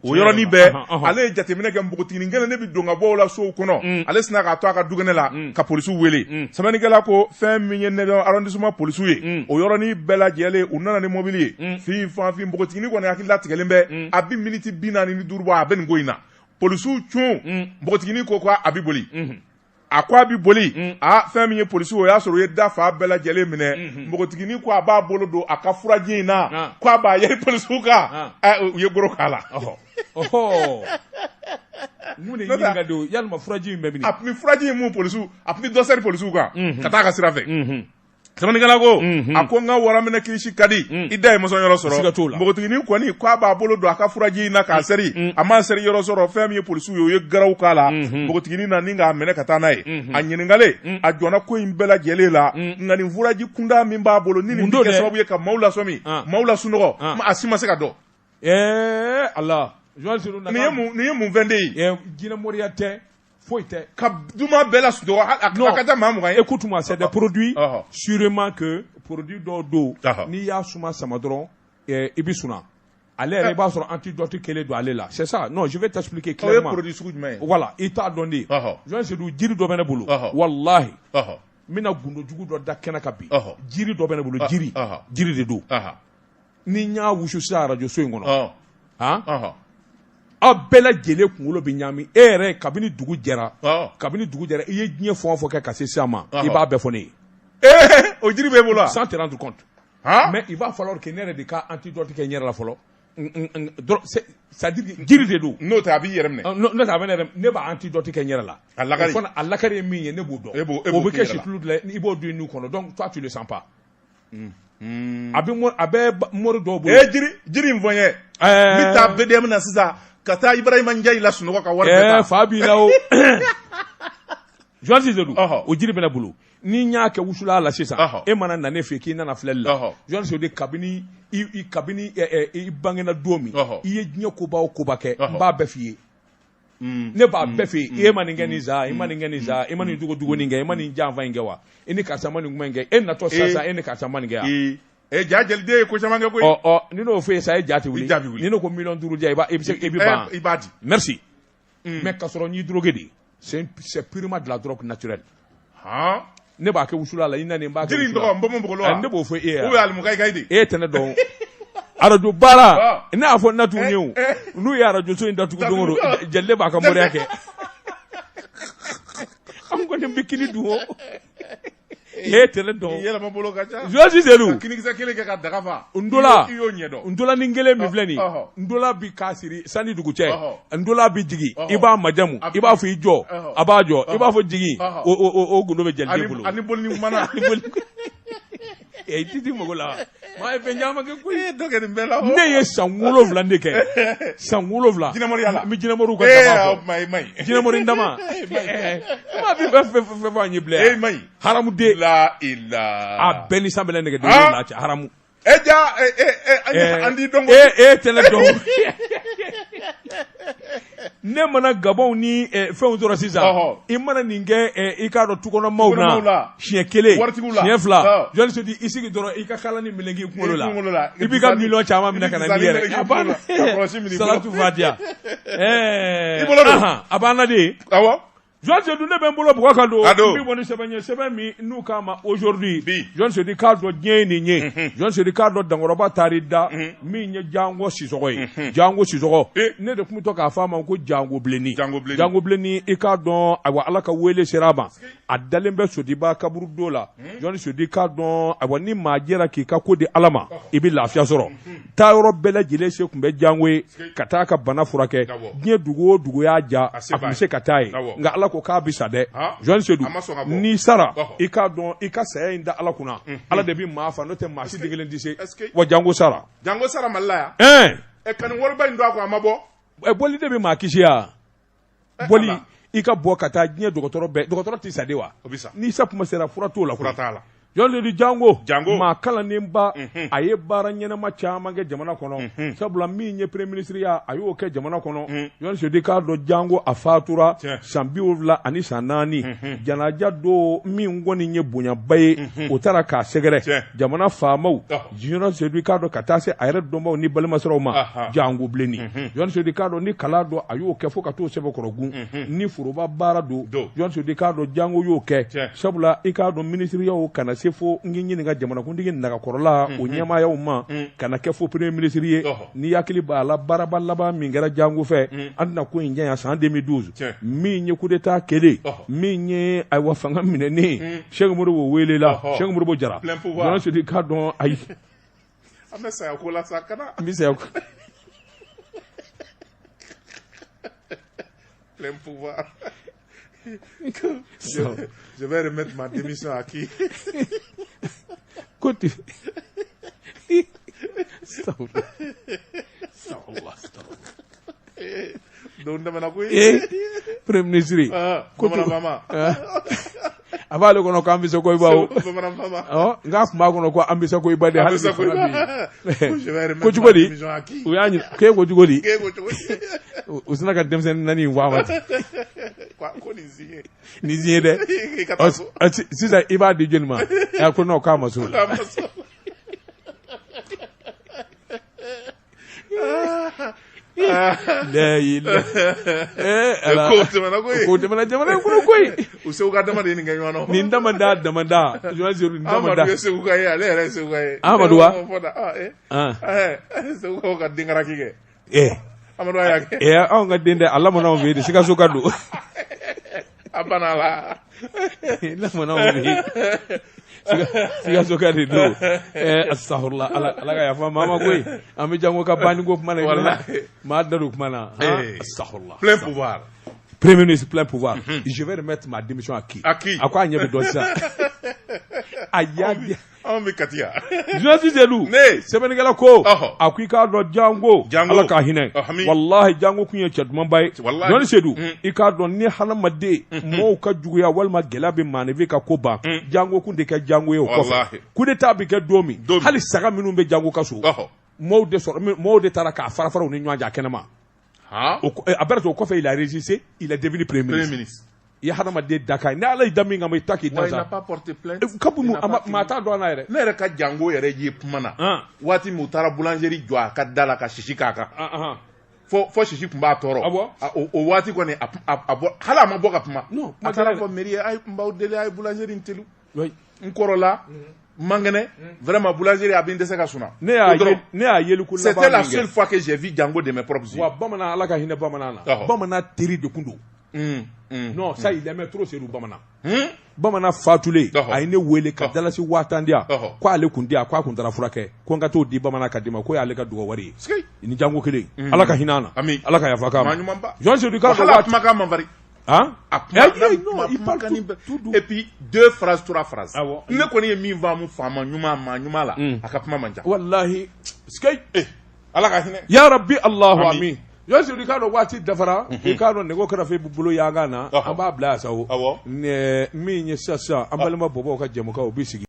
S2: o yɔrɔnin bɛɛ ale ye jateminɛ kɛ npogotiginin kelen ne bɛ don ka bɔ o la sow kɔnɔ ale sinna k'a to a ka dukɛnɛ la ka polisiw wele sɛbɛnnikɛla ko fɛn min ye neuvième arrondissement polisiw ye o yɔrɔnin bɛɛ lajɛlen u nana ni mɔbili ye fin fanfin npogotiginin kɔni hakili latigɛlen bɛ a bɛ miniti bi naani ni duuru bɔ a bɛ nin ko in na polisiw cun mm. npogotiginin ko ko a bɛ boli mm-hmm. a ko a bɛ boli mm. a fɛn min ye polisiw o y'a sɔrɔ u ye da fan bɛɛ lajɛlen minɛ mm-hmm. npogotiginin ko a b'a bolo don a ka furaji in na ah. ko a b'a yɛri polisiw kan ah. eh, u ye goro k'a
S1: la mun de ɲininka don yalima furaji in bɛ min
S2: a tun bɛ
S1: furaji
S2: in mun polisiw a tun bɛ dɔ sɛri
S1: polisiw
S2: kan mm-hmm. ka taa
S1: a ka
S2: sira fɛ Sɛbɛnnikɛla ko a ko nka waraminɛ kilisi ka di i da ye mɔsɔn yɔrɔ sɔrɔ ka t'o la npogotiginin kɔni k'a b'a bolo don a ka furaji in na k'a seri a ma seri yɔrɔ sɔrɔ fɛn min ye polisiw ye u ye garaw k'a la npogotiginin na ni k'a minɛ ka taa n'a ye a ɲininkalen a jɔnna ko in bɛɛ lajɛlen la nka nin furaji kunda min b'a bolo ni nin kɛ sababu ye ka maaw lasɔmi maaw lasunɔgɔ a si ma se k'a dɔn
S1: a
S2: nin ye mun fɛn de ye jinɛmoriya tɛ
S1: foyi tɛ ka dumaa bɛɛ
S2: lasunɔgɔ a non, ka taa maa mugan ye écoute moi c'est
S1: des produits uh -huh. sûrement que produit dɔw don uh -huh. n'i y'a suma sama dɔrɔn eh, i bɛ suna ale yɛrɛ eh. i b'a sɔrɔ antidote kelen don ale la c'est ça non je vais t'expliquer clairement o ye produit sugu jumɛn ye
S2: voilà i t'a dɔn
S1: dɛ Jean Seydou jiri dɔ bɛ ne bolo walahi n bɛna gundo jugu dɔ da kɛnɛ kan bi jiri dɔ bɛ ne bolo jiri jiri de don ni n y'a wusu sisan arajo so in kɔnɔ han aw bɛɛ lajɛlen kunkolo bɛ ɲaami e yɛrɛ kabini dugu jɛra kabini dugu jɛra i ye diɲɛ fɛn o fɛn kɛ ka se sisan ma i b'a bɛɛ fɔ ne ye eh, o jiri
S2: b'e bolo wa sans te rendre compte
S1: mais il va falloir que ne yɛrɛ de ka antidote kɛ n yɛrɛ la fɔlɔ c'est-à-dire jiri de don n'o tɛ a b'i yɛrɛ
S2: minɛ ah, n'o tɛ a bɛ ne yɛrɛ ne
S1: b'a antidote kɛ n yɛrɛ la a lakari a lakari ye min ye ne b'o dɔn o bɛ kɛ situlu de la i b'o don i nu kɔnɔ donc toi tu le sens pas Mm-hmm. a bɛ a bɛ mori dɔw bolo. ee jiri jiri in fɔ
S2: n ye. ɛɛ n bɛ taa BDM na sisan ka taa Ibrahima Ndiaye lasunɔgɔ ka wari bɛɛ ta. ɛɛ fa b'i la o.
S1: Jean Seydou o jiri bɛ ne bolo ni n y'a kɛ wusulan la sisan e mana na ne fɛ k'i nana filɛli la Jean Seydou kabini i kabini i bangena don min i ye diɲɛ koba o koba kɛ n b'a bɛɛ f'i ye. mm. ne b'a mm. bɛɛ f'i ye e ma nin kɛ nin zaa e ma nin kɛ nin zaa e ma nin jogo jugu nin kɛ e ma nin janfa in kɛ wa e ni karisa ma nin kuma in kɛ e natɔ sisan e ni karisa ma nin kɛ wa jaa jɛliden ye ko
S2: caman kɛ koyi ɔ ɔ ni n'o fɔ e ye sa e
S1: ja tɛ wuli ni ne ko miliyɔn duuru di yan i b'a i bɛ se i bɛ ban i b'a di merci mais ka sɔrɔ n y'i drogué dɛ c'est purement de la drogue naturelle ne b'a kɛ wusulan la i na b'a kɛ n bɔ
S2: ne b'o fɔ e
S1: ye
S2: e tɛ ne
S1: dɔn arajo baara ne y'a fɔ natu ye o n'u ye arajoso in datugu don jeli b'a ka moriya kɛ an kɔni bɛ kini dun o e tɛ ne dɔn yɛlɛsi
S2: selilu ntola ni kelen min filɛ
S1: nin ntola bi k'a siri san ni dugu cɛ ntola bɛ jigin i b'a majamu i b'a fɔ i jɔ a b'a jɔ i b'a fɔ jigin o gundo bɛ jeli bolo i tɛ di mɔgɔ la maa ye fɛn caman kɛ koyi dɔ kɛ nin bɛɛ la ne ye
S2: san
S1: wolonwula de kɛ san wolonwula jinɛmoriya la n bɛ
S2: jinɛmoriw
S1: ka dama fɔ e man ɲi jinɛmori dama maa bɛ fɛn fɛn fɛn fɔ an ye bilen e man ɲi haramuden
S2: la
S1: i la
S2: a bɛɛ ni san bɛ ne
S1: nɛgɛ den na cɛ haramu E
S2: ja an t'i dɔn e e tɛ ne
S1: dɔn ne mana gabɔnw ni fɛnw tɔɔrɔ sisan i mana nin kɛ i k'a dɔn tukɔnɔ maaw la siɲɛ kelen siɲɛ fila Jean Seydou i sigi dɔrɔn i ka kala ni meleke i kunkolo la i b'i ka miliyɔn caman minɛ ka na yɛrɛ diya a banna dɛ Jean Seydou ne bɛ n bolo bugɔ ka don bɛ bɔ ni sɛbɛn ye sɛbɛn min n'u k'a ma aujourd'hui Jean Seydou k'a dɔn diɲɛ ye nin ye mhm. Jean Seydou k'a dɔn dankɔrɔba taar'i da mhm. min ye jango sisɔgɔ ye mhm. jango sisɔgɔ ne de tun bɛ to k'a fɔ a ma ko jango bilenni jango bilenni i k'a dɔn ayiwa ala ka wele sera a ma a dalen bɛ sodiba kaburudo la Jean Seydou k'a dɔn ayiwa ni maa jɛra k'i ka ko di ala ma i bɛ lafiya sɔrɔ taa yɔrɔ bɛɛ lajɛlen se tun bɛ jango ye ka taa ka bana furakɛ diɲɛ dugu o dugu y'a ja a tun bɛ se ka taa yen nka ala ko k'a bɛ sa dɛ Jean Seydou n'i sara i k'a dɔn i ka saya in da ala kunna ala de bɛ maa fa n'o tɛ maa si den kelen tɛ se wa jango sara jango sara mali
S2: la yan ɛ ka nin wariba in don a kun a ma bɔ boli de bɛ maa kisi yan
S1: boli i ka bɔ ka taa diɲɛ dɔgɔtɔrɔ bɛɛ dɔgɔtɔrɔ tɛ sa de wa n'i sa kuma sera fura t'o la fura t'a la Jean Seydou jango jango maa kalannenba mhm. a ye baara ɲɛnama caman kɛ jamana kɔnɔ mhm. sabula min ye premier ministre ya a y'o kɛ jamana kɔnɔ Jean mhm. Seydou k'a dɔn jango a fatura san bi wolonwula ani san naani janaja don min kɔni ye bonyaba ye o taara k'a sɛgɛrɛ jamana faamaw Jean Seydou k'a dɔn ka taa se a yɛrɛ dɔnbaw ni balimasiraw ma jango bilennin Jean Seydou k'a dɔn ni kalan don a y'o kɛ fo ka t'o sɛbɛkɔrɔ kun ni foroba baara don Jean Seydou k'a dɔn jango y'o kɛ sabula i k'a dɔn minisiriyaw ka na se fo n ɲininka jamanakuntigi nagakɔrɔla o ɲɛmaayaw ma ka na kɛ fo premier ministre ye ni hakili b'a la baaraba laban min kɛra jango fɛ an tɛna ko in janya san deux mille douze min ye coup d'état kɛlen min ye ayiwa fanga minɛni Sɛki Modibo welela, ɔhɔ, Sɛki Modibo Jara, plein pouvoir, Jara Sedu k'a dɔn ayi, an bɛ
S2: saya ko la sa, kana, n bɛ saya ko, plein pouvoir, je, je vais remettre ma démission à qui
S1: Koti.
S2: Saula. Saula. Don tɛmɛna koyi ee premier
S1: ministre bamananfama a b'ale kɔnɔ ko an bɛ sa koyi bawo bamananfama
S2: nka a tun b'a
S1: kɔnɔ ko an bɛ sa koyi ba de hali ko cogo di u y'a ɲini k'e ko cogo di u sina ka denmisɛnnin naani in fɔ a ma ten
S2: ko nin
S1: ni ye dɛ sisan i b'a di jɔnni ma a ko n'o k'a ma so la jamana jamana kɔnɔ koyi o seguka dama de
S2: nin kɛ ɲɔgɔn nin dama da dama
S1: da amadu seguka ye ale yɛrɛ
S2: seguka ye amadu wa seguka denkara kɛ ee Amadu y'a kɛ ee anw ka den tɛ
S1: a lamɔna anw fɛ yen de sikasoka
S2: don a bana la lamɔna
S1: anw fɛ yen Sika- sikasoka de don ee astafurulayi ala ala ka yafa maa ma koyi an bɛ jango ka banni ko kuma la Walahi. maa da don kuma na Ee. astafurulayi plein
S2: pouvoir premier ministre
S1: plein pouvoir je vais remettre ma démission à qui À qui? a ko a ɲɛ bɛ dɔn sisan a y'a di Anw
S2: bɛ kati jsi
S1: sedu ne sɛbɛnnikɛla ko a ko i k'a dɔn jango ala ka hinɛ walahi jango kun ye cɛ dumanba ye dɔnni sedu i k'a dɔn ni hadamaden mɔgɔw ka juguyaya walima gɛlɛya bɛ maaninfin ka ko ban jango kun tɛ kɛ jango ye o kɔ coup d'état bɛ kɛ don min hali saga minnu bɛ jango ka so mɔgɔw de taara k'a farafara u ni ɲɔgɔn cɛ kɛnɛ ma Han? O kɔ- eh, après ça o kɔfɛ il a résisté il est devenu premier Premier ministre ministre. i ye hadamaden dakan ye ni ala y'i da min kama i ta k'i Wa da il n'a sa pas porté plainte.
S2: Eh, kabu Il mu n'a a ma- pas maa t'a dɔn a la
S1: yɛrɛ Ne yɛrɛ ka jango
S2: yɛrɛ ye kuma na. Han. Waati min u taara boulangerie jɔ a ka da la ka sisi k'a kan. Ah, ah. Fɔ fɔ sisi tun b'a tɔɔrɔ. Ah bon? A- O o waati kɔni a a- a bɔ hali a ma bɔ ka kuma. Non, kuma A taara tɛ dɛ. fɔ mairie
S1: ye a ye
S2: n b'aw deli a ye boulangerie in teliw. n kɔrɔla n man kɛnɛ vraiment boulangerie a bɛ n dɛsɛ ka sunɔgɔ c'était la seule fois que j'ai vu jango de mes propres yeux bamanan ala ka hinɛ bamanan
S1: na bamanan teri de tun don ça il l'aimait trop sedu bamanan bamanan fatulen a ye ne weele ka dalasi waa tan di k' ale tun tɛ yan k' a tun taara furakɛ ko n ka t'o di bamanan ka du ma k'o y'ale ka dugawu wari ye nin jango kelen ala ka hinɛ ala ka yafa jɔn kuma ma
S2: deux phrases trois phrases ne kɔni ye min faamu faama ɲuman ma ɲuman la a ka kuma man ca walahi
S1: ala ka hinɛ
S2: ya rabi
S1: alahu amin y'a sɔrɔ i k'a dɔn waati dafara i k'a dɔn nɛgɛ kɛrɛfɛ i bɛ bolo yangan na an b'a bila yan sa min ye sisan sisan an balima bɔbɔ ka jɛmukan o bɛ sigi